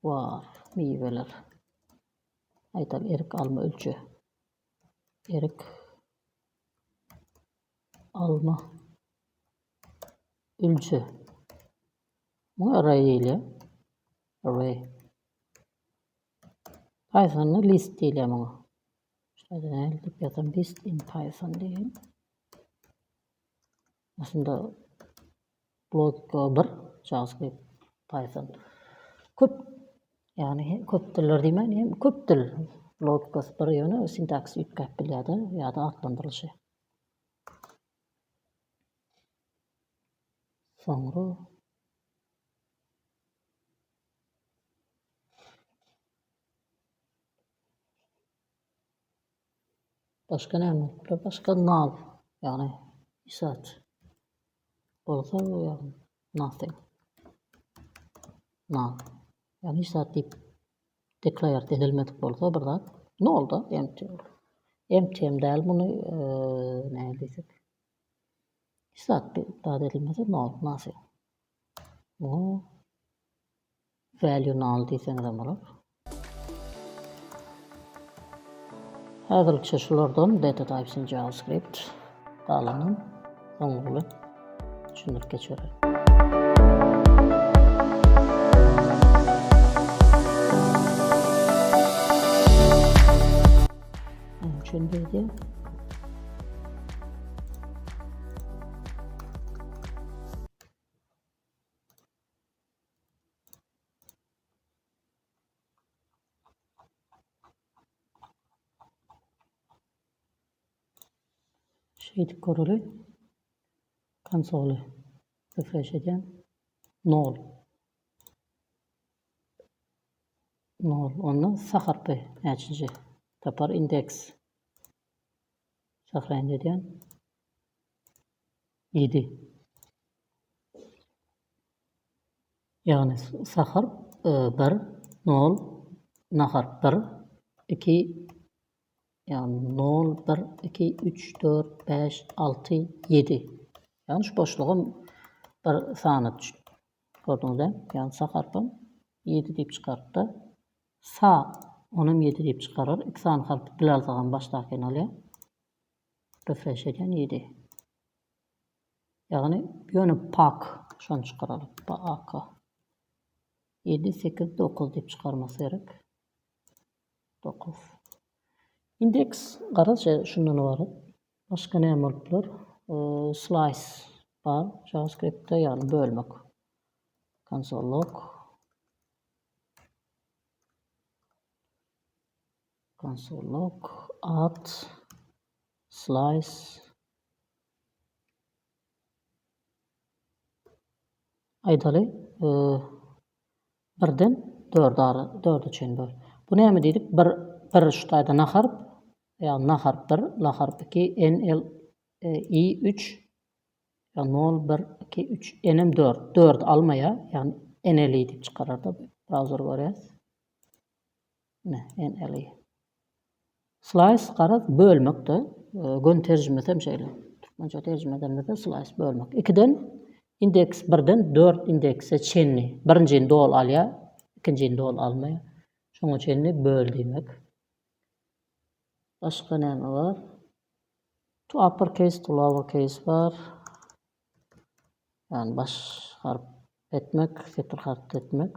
bar, miweler. Aýdaly, erik, alma, ölçe. Erik, alma, ölçe. Bu array diýilýär. Array. Pythonda list diýilýär muňa. Şeýle diýip ýazan list in Python diýin. Aslynda logika bir, JavaScript, Python. Köp, ýagny köp diller diýmän, hem köp dil logikasy bir ýöne sintaksisy üýtgäp bilýär-de, ýa-da atlandyrylyşy. Soňra Başga näme bolupdyr? Başga null, ýagny hiç zat. Bolsa bu ýagny nothing. Null. Ýagny hiç zat diýip declare edilmedik bolsa bir zat null da empty bolar. Empty hem däl muny näme diýsek. Hiç zat edilmese null, nothing. Bu Value null diýseňizem bolar. Häzirlikçe şulardan data types in JavaScript galanyny soňky bilen düşündirip geçerin. Şundaydı. Şeýdip göreli. Konsoly refresh edýän. Nol. Nol. Onda sa harpy näçinji? Tapar indeks. Sahraýan edýän. 7. Ýagny sahar bir nol nahar bir iki ýagny nol bir iki üç dört bäş alty ýedi ýagny şu boşlugam bir sana gördüňizä ýagny saharpam ýedi diýip çykarypda sa onam ýedi diýip çykarar iki sany harp bilalzagam başdaky nol ýa refresh edýän ýedi. Ýagny ýöne pak şony çykaralyp paaka ýedi sekiz dokuz diýip çykarmasy gerek dokuz indeks garaz şundan ybarat başga näme bolup biler slaýs bar javaskriptde ýagny bölmek konsol log konsol log at slaýs. Aýdaly, birden dörde ara, dörde çen böl. Bu näme diýdik? Bir, bir şu taýda na harp, ýagny na harp bir, la harp iki, n, l, i üç, ýa nol, bir, iki, üç, n-em dört. Dördi almaýar, ýagny n-l-i diýip çykararda bu. Brauzer görýäs. Slice, garaz, bölmekde. Göni terjimesi hem şeýle. Türkmençe terjime edeniňizde slice, bölmek. Ikiden, indeks, birden dört indekse çenli. Birinjini doly alýar, ikinjini doly almaýar. Şoňa çenli böl diýmek. Başga näme bar? To upper case, to lower case bar. Ýagny baş harp etmek, setir harp etmek.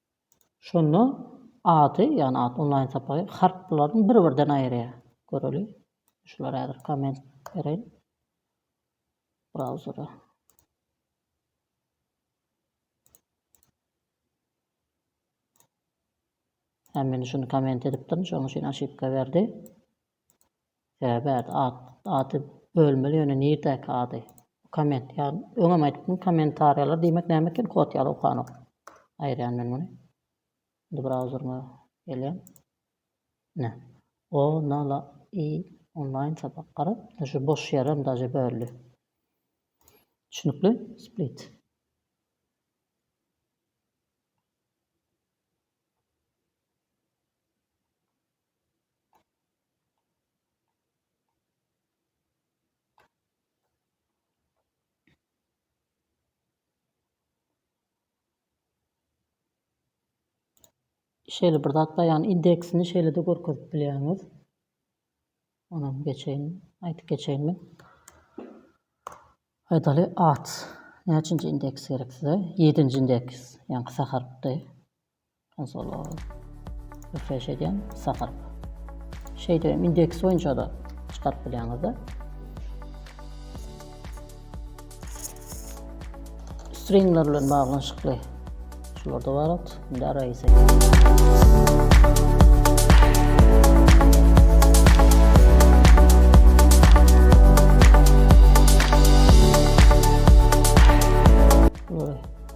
Şonda ady, ýagny at onlaýn sapagy harplaryny bir-birden aýyrýar. Göreli. Şulara häzir komment bereýin. Brauzere. Hem men şuny komment edipdim, şonuň üçin aşypka berdi. Söhbet at ady bölmeli ýöne nirdäki ady. Bu komment ýagny öňem aýdypdym kommentariýalar diýmek näme eken kod ýaly okanok. Aýyrýan men muny. Indi browseryma gelýän. Ne. O na la i onlaýn sapak garap şu boş ýerem daže böldi. Düşünikli split. şeýle bir zat baýan indeksini şeýle-de görkezip bilýäňiz. Onam geçeýin, aýdyp geçeýin men. Pedaly at. Näçinji indeks gerek size? 7-nji indeks, ýaňky saharpdy. Azalar. Refresh edýän, sagaryp. Şeýdip hem indeks boýunça-da çykaryp bilýäňizde. Stringler bilen baglanyşykly. Şularda bar at, indi arraýy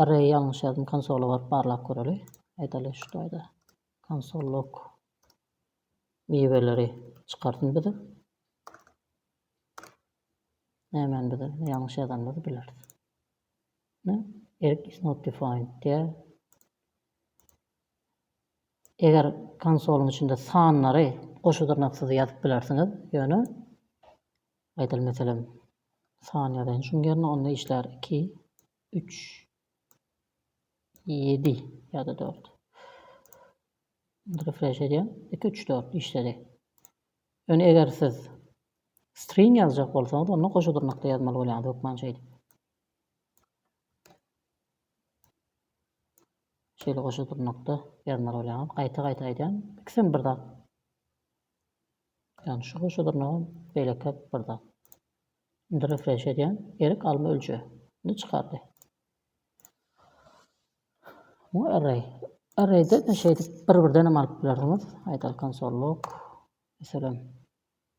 Array ýalňyş ýazym konsola baryp barlap göreli. Aýdaly şu taýda konsol log miweleri çykarsyn bize. Nämäni bize ýalňyş ýazanymyzy bileris. Ne? Erk is not defined diýär. Eger konsolyň içinde sanlary goşa dyrnaksyz ýazyp bilersiňiz, ýöne Gaýtaly meselem san ýazaýyn şuň ýerine onda işlär iki üç ýedi ýada dört refresh edýän iki üç dört işledi ýöne eger siz string ýazjak bolsaňyz onda goşa dyrnakda ýazmaly bolýaňyz hökman şeýdip şeýle goşa dyrnakda ýazmaly bolýaňyz gaýta gaýta aýdýan ikisem bir zat Ýagny şu goşa dyrnagam beýleki bir zat. Indi refreş edýän. Erik alma ölçe. Ni çykardy. Bu array. Arrayda da şeýdip bir birden hem alyp bilersiňiz. Aýdal konsolluk. Meselem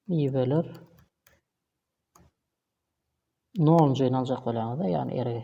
miweler. Nol jeýin aljak bolýaňyzda, ýagny erigi.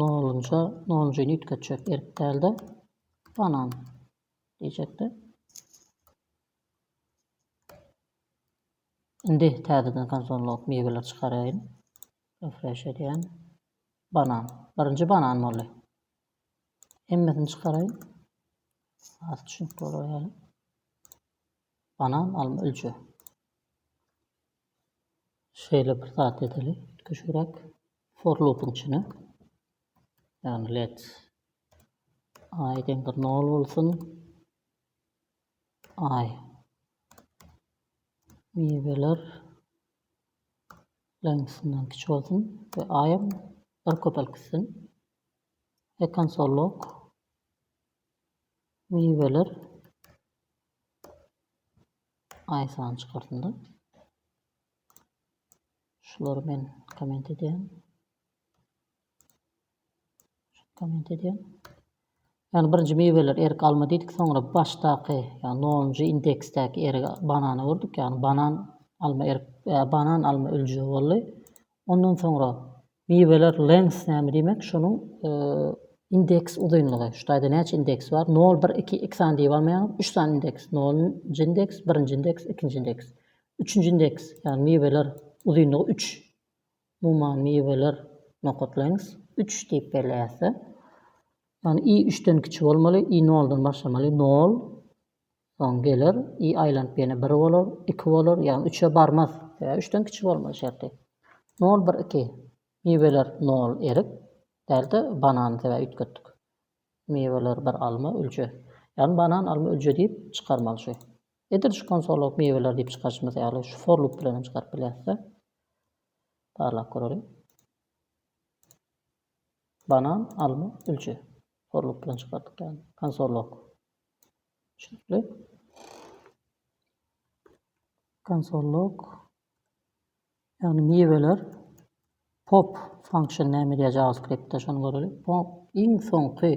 Nolunja, nolunjyny üýtgetjek, erk däl-de, banan diýjekdi. Indi täzeden konzollyk miweleri çykaraýyn. Refresh edýän. Banan. Birinji banan boldy. Hemmesini çykaraýyn. Az düşünip bolar ýaly. Banan, alma, ülje. Şeýle bir zat edeli. Küçüräk. For loopyň içine ýagny let i deňdir nol bolsun i miweler length-inden kiçi bolsun we i-ym bir köpelip gitsin we konsol log miweler i sany çykarsyn-da. Şulary men komment edýän. Komment edýän. Yani birinci miweler erik alma diýdik, soňra başdaky, yani nonuncu indeksdäki erik banany gördük, yani banan alma erik, e, banan alma ülje boldy. Ondan soňra Miweler length näme diýmek şonuň indeks uzynlygy şu taýda näçe indeks bar nol bir iki iki sany diýip almaýaňyz üç sany indeks nol njy indeks birinji indeks ikinji indeks üçünji indeks ýagny miweler uzynlygy üç umuman miweler nokat length üç diýip belleýäsde ýagny i üçden kiçi bolmaly i noldan başlamaly nol Soň geler, i aýlanyp ýene bir bolar, iki bolar, ýagny üçe barmaz. Sebäbi üçden kiçi bolmaz şerti. Nol bir iki. Miweler nol erik, däl-de banan, sebäbi üýtgetdik. Miweler bir alma, ülje. Ýagny banan, alma, ülje diýip çykarmaly şu. Edil şu konsolok miweler diýip çykaryşymyz ýaly şu for loop bilen hem çykaryp bilýäris-de. Barlap göreliň. Banan, alma, ülje. For loop bilen çykardyk ýagny. Konsolok. Şeýle konsolluk, ýagny miweler pop function näme diýýär JavaScriptde şony göreliň. Pop iň soňky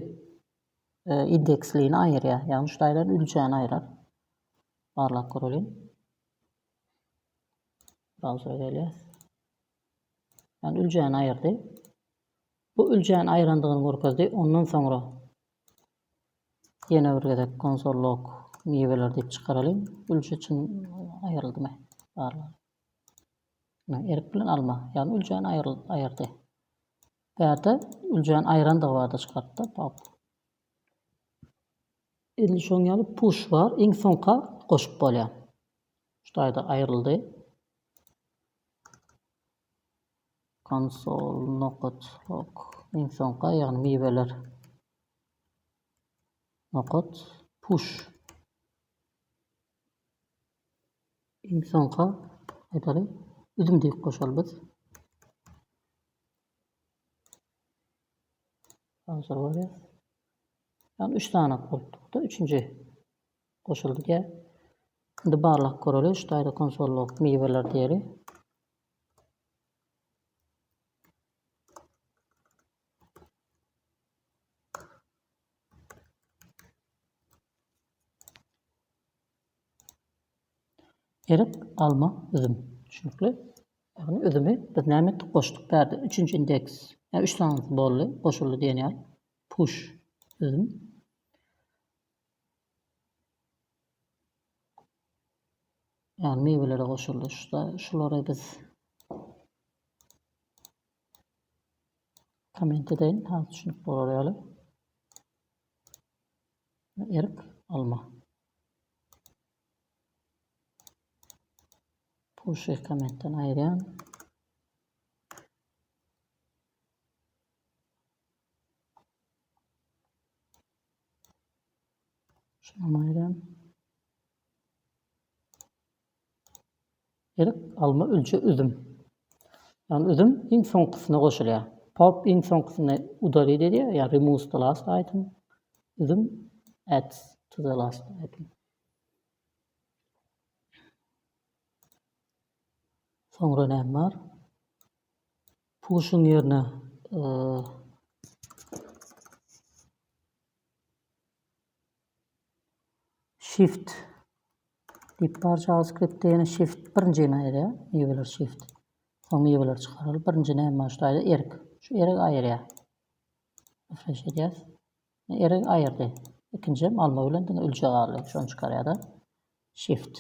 e, indekslini aýyrýar. Ýagny şu taýdan üljäni aýrar. Barlap göreliň. Brauzere gelýär. Ýagny üljäni aýyrdy. Bu üljäni aýrandygyny görkezdi. Ondan soňra Ýene bir gezek konsol log miweler diýip çykaralyň. Ülje üçin aýryldymy? Barlalyň. Ine, erik bilen alma. Ýagny üljäni aýryl aýyrdy. Bärde üljäni aýrandygy barda çykartdy. Pop. Indi şoň ýaly push bar. Iň soňka goşup bolýar. Şu taýda aýryldy. Konsol, nokat, ok. Iň soňka, ýagny miweler. Nokat, push. Iň soňka, aýdaly, üzüm diýip goşaly biz. Hazır bolýar. Ýagny üç sany bolupdyr-da, üçünji goşuldy diýýär. Indi barlag göreli, üç taýda konsol bolup miweler diýeli. Erik, alma, üzüm. Düşünikli. Ýagny üzümi biz näme etdik? Goşduk bärde. Üçünji indeks. Ýa üç sanysy boldy, goşuldy diýen ýaly. Puş, üzüm. Yani miwelere goşuldy. Şuda şulary biz komment edeýin. Ha düşünip bolar ýaly. Erik alma. Puşy kommentden aýyrýan. Şundan aýram, erik, alma, ülje, üzüm. Ýagny üzüm iň soňkusyna goşulýar. Pop iň soňkusyny udalit edýär, ýa removes the last item. Üzüm adds to the last item. Soňra näme bar? Pushing ýerine Shift diýip bar JavaScript-de ýene Shift birinji ýene ýere miweler Shift. Soň miweler çykaryl. Birinji näme şu aýda erk. Şu erk aýyrýar. Refresh edýäs. Erk aýyrdy. Ikinji hem alma bilen diňe ülje galdy. Şony çykarýar-da. Shift.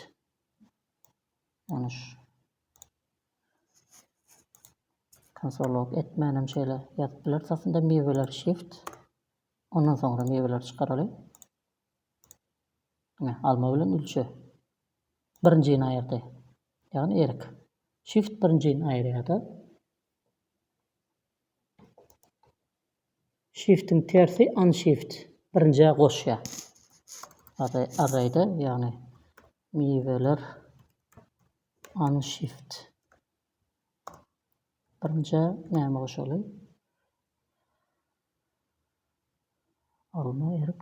Ýalňyş. Konsolok etmän hem şeýle ýazyp bileris aslynda miweler shift. Ondan soňra miweleri çykaraly. Ine, alma bilen ülçe. Birinjini aýyrdy. Ýagny erik. Shift birinjini aýyrýar-da. Şiftiň tersi unshift. Birinjä goşýar. Array, arraýda, ýagny miweler unshift. Birinjä näme goşaly? Alma, erik.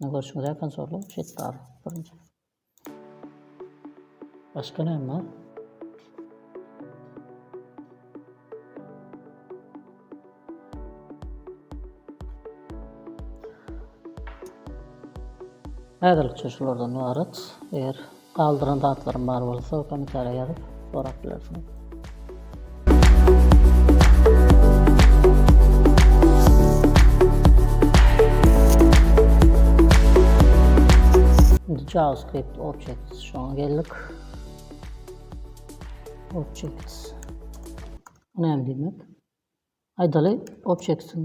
Indi görşüňiz ýakan zorluk şeýdip bar birinji. Başga näme bar? Häzirlikçe şulardan ybarat. Eger Galdyran zatlarym bar bolsa komentarýa ýazyp sorap bilersiňiz. Indi JavaScript Objects şoňa geldik. Objects. Bu näme diýmek? Aýdaly, objects e,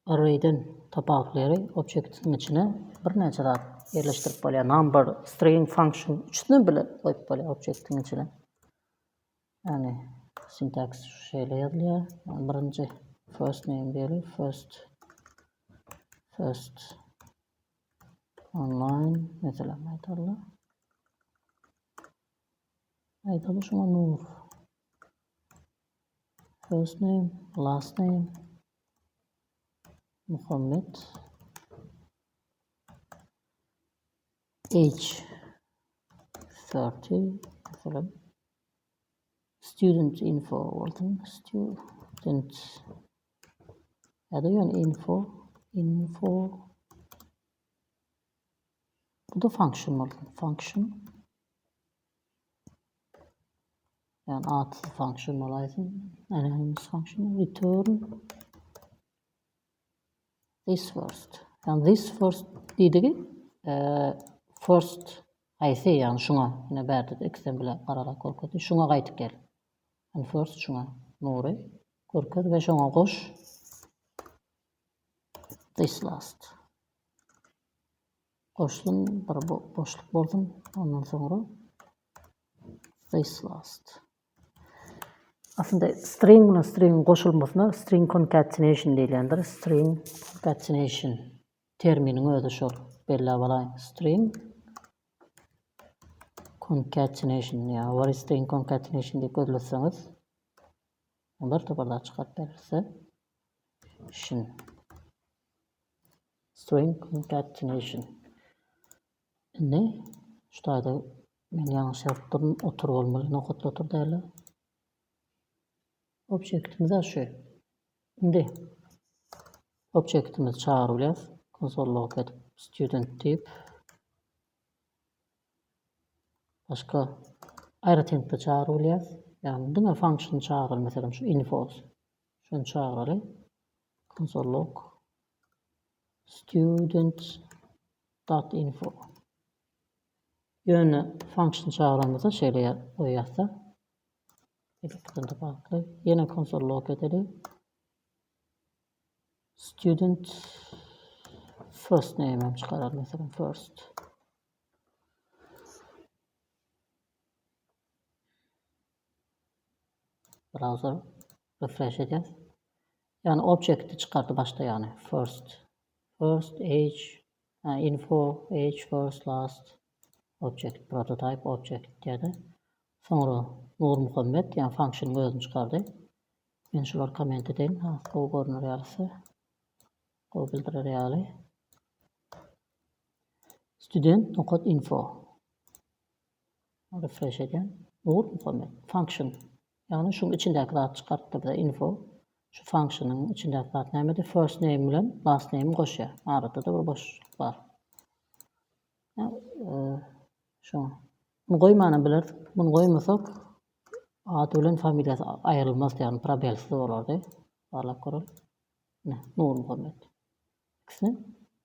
Array'den top outleri objektiniň içine birnäçe zat ýerleşdirip bolýar. Number, string, function üçüsini bile goýup bolýar objektiniň içine. Ýani sintaks şeýle ýazylýar. Birinji first name diýeli, first first online mesela aýdaly. Aýdaly şuňa nur. First name, last name, Muhammet, age, 30, mesela, student info, olsun, student, ya da yani info, info, bu da function olsun, function, Yani atsız function bolaýsyn. Anonymous function return this first. Yani this first diýdigi e, first haýsy yani şuňa ýene bärde ikisem bile gararak görkezdi. Şuňa gaýtyp gel. Yani first şuňa nury görkez we şoňa goş this last. Goşdum, bir boşluk boldum. Ondan soňra space last. Aslynda string bilen string goşulmasyna string concatenation diýilýändir. String concatenation terminiň özi şol. Belläp alaýyn. String concatenation ya what is string concatenation diýip gözleseňiz olar toparlar çykaryp berer size. Şun. Swing Incarnation. Indi şu taýda men ýalňyş ýazyp durun, otur bolmaly, nokatly otur däldir. Objektimiz şu. Indi objektimizi çagyryp bilýäris. Konsol log edip student diýip başga aýratynlykda çagyryp bilýäris. Ýagny diňe function çagyryl, meselem şu info. Şuny çagyraly. Console log students dot info. Ýöne function çagyramyza şeýle ýazsa. Elektrikde bagtly. Ýene console log edeli. Student first name hem çykarar mesela first. Browser refresh edýär. Yani objekti çykardy başda yani first. First age info age first last object prototype object diýdi. Soňra Nur Muhammed yani function özüni çykardy. Men şular komment edeýin. Ha, gowy görner ýalysa. Gowy bildirer ýaly. Student nokat info. Refresh edýän. Ugur muhamy. Function. Ýagny şuň içindäki zady çykarypdyr bize info. Şu functionyň içindäki zat nämedi? First name bilen last name-i goşýar. Arada-da bir boşluk bar. Şo. Muny goýmanam bilerdik. Muny goýmasak ady bilen familiýasy aýrylmazdy, ýagny probelsiz bolardy. Barlap göreli. Ne, Nurmuhammet. Ikisine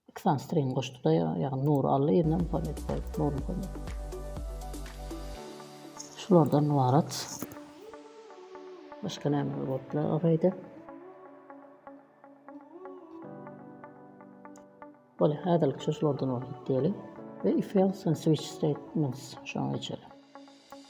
iki sany string goşduk-da, ýagny Nur Alla ýerine Muhammet goýup, Nur Muhammet. Şulardan ybarat. Başga nämeler bolupdyr araýda? Bolýar, häzirlik şu şulardan ybarat diýeli. We if else and switch statements şoňa geçeli.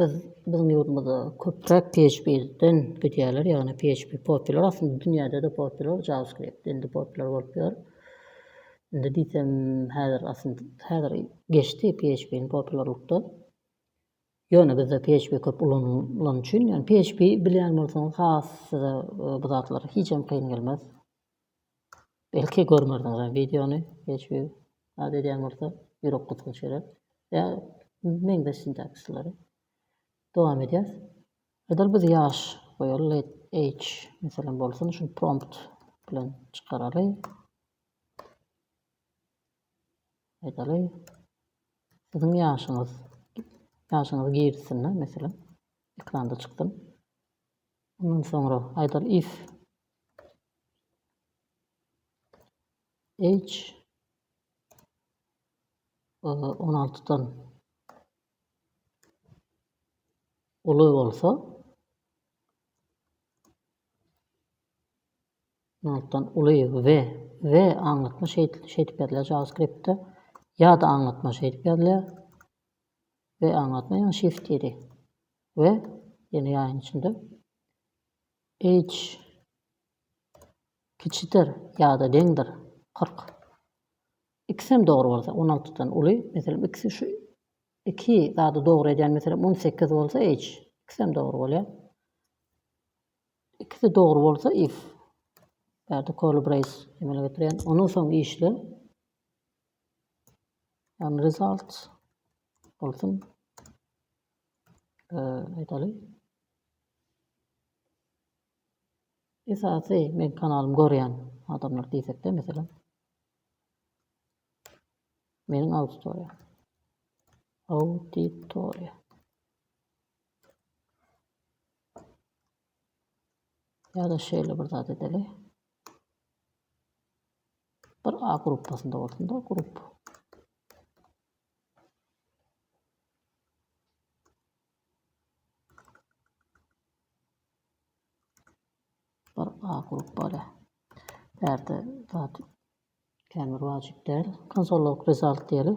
Biz biziň ýurdumyzda köpräk PHP-den gidýärler, ýagny PHP popüler aslynda dünýäde-de popüler, JavaScript indi popüler bolup ýör. Indi diýsem häzir aslynda häzir geçdi PHP-niň popülerlikde. Ýöne bizde PHP köp ulanylan üçin, ýagny PHP bilýän bolsaňyz has size e, bu zatlar hijem kyn gelmez. Belki görmerdiňizem wideony hiç bir zat edýän bolsa ýürek gytgy çörek ýa meňzeş sintaksisleri. Dowam edýäs. Edil biz ýaş goýaly let age meselem bolsun şuny prompt bilen çykaraly. Aýdaly siziň ýaşyňyz ýaşyňyzy girsin meselem ekranda çyksyn. Ondan soňra aýdal if age on altydan uly bolsa, on altydan uly we we aňlatma şeýdip şeýdip ýazylýar JavaScript-de ýa-da aňlatma şeýdip ýazylýar. we aňlatma ýaňy shift diýdi we ýene ýaýyň içinde H kiçidir ýa-da deňdir 40. Ikisem dogry bolsa, 16 dan uly, meselem, ikisi şu iki zady dogry edýän, meselem, 18 bolsa H, ikisem dogry bolýar. Ikisi dogry bolsa if. Bärde curly brace emele getirýän. Ondan soň işle Yani result olsun. Aytaly. Esasy men kanalym görýän adamlar diýsekde mesela. Meniň auditoriýa. Auditoriýa. Ýa-da şeýle bir zat edeli. Bir A gruppasynda bolsun-da grup. Bir A grup bala. Bärde zat kämir wajyp däl. Konsolog result diýeli.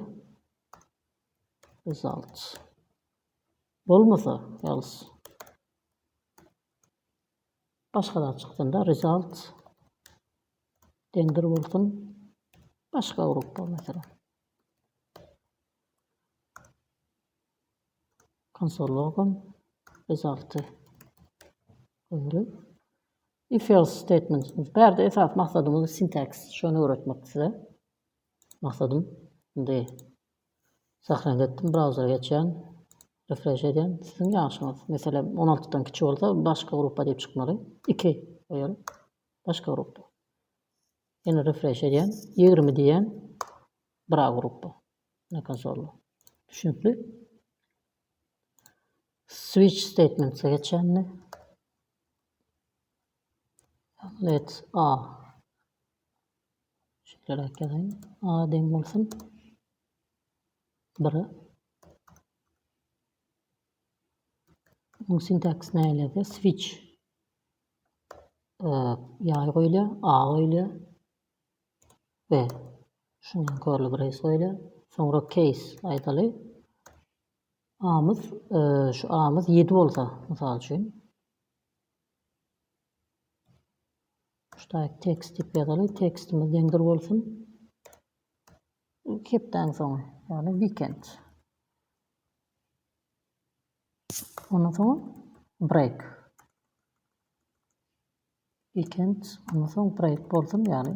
Results. Bolmasa, else. Başga zat çyksynda result deňdir bolsun başga gruppa meselem. Konsol logum resulty öwrü. If else statement. Bärde esas maksadymyz sintaks. Şonu öwretmek size. Maksadym. Indi Zähreňizi etdim brauzere geçýän. Refresh edýän. Siziň ýaşyňyz meselem on altydan kiçi bolsa başga gruppa diýip çykmaly. Iki goýaly. Başga gruppa. Ýene refresh edýän. Ýigrimi diýýän. Bra gruppa. Ne konsolda. Düşünikli. Switch statementse geçýänmi? Let's a. Şeýleräk ýazaýyn. A deň bolsun. Bire. Munuň sintaksy näleýär? Switch. Ýaý goýulýar, A goýulýar. B. Şuny körli brace goýulýar. Soňra case aýdaly. A-myz, şu A-myz 7 bolsa, mysal üçin. Ştaýt tekst diýip ýazaly, tekstimiz deňdir bolsun. Hepdäň soňy, ýagny weekend. Ondan soň break. Weekend, ondan soň break bolsun, ýagny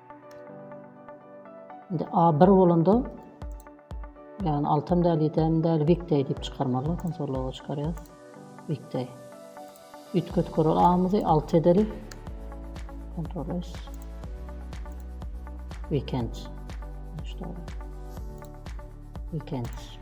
Indi A1 bolanda yani altan däl, ýedem däl, weekday diýip çykarmaly, konsolloga çykarýar. Weekday. Üýtget korol A-myzy alt edeli. Ctrl S. Weekend. Weekend.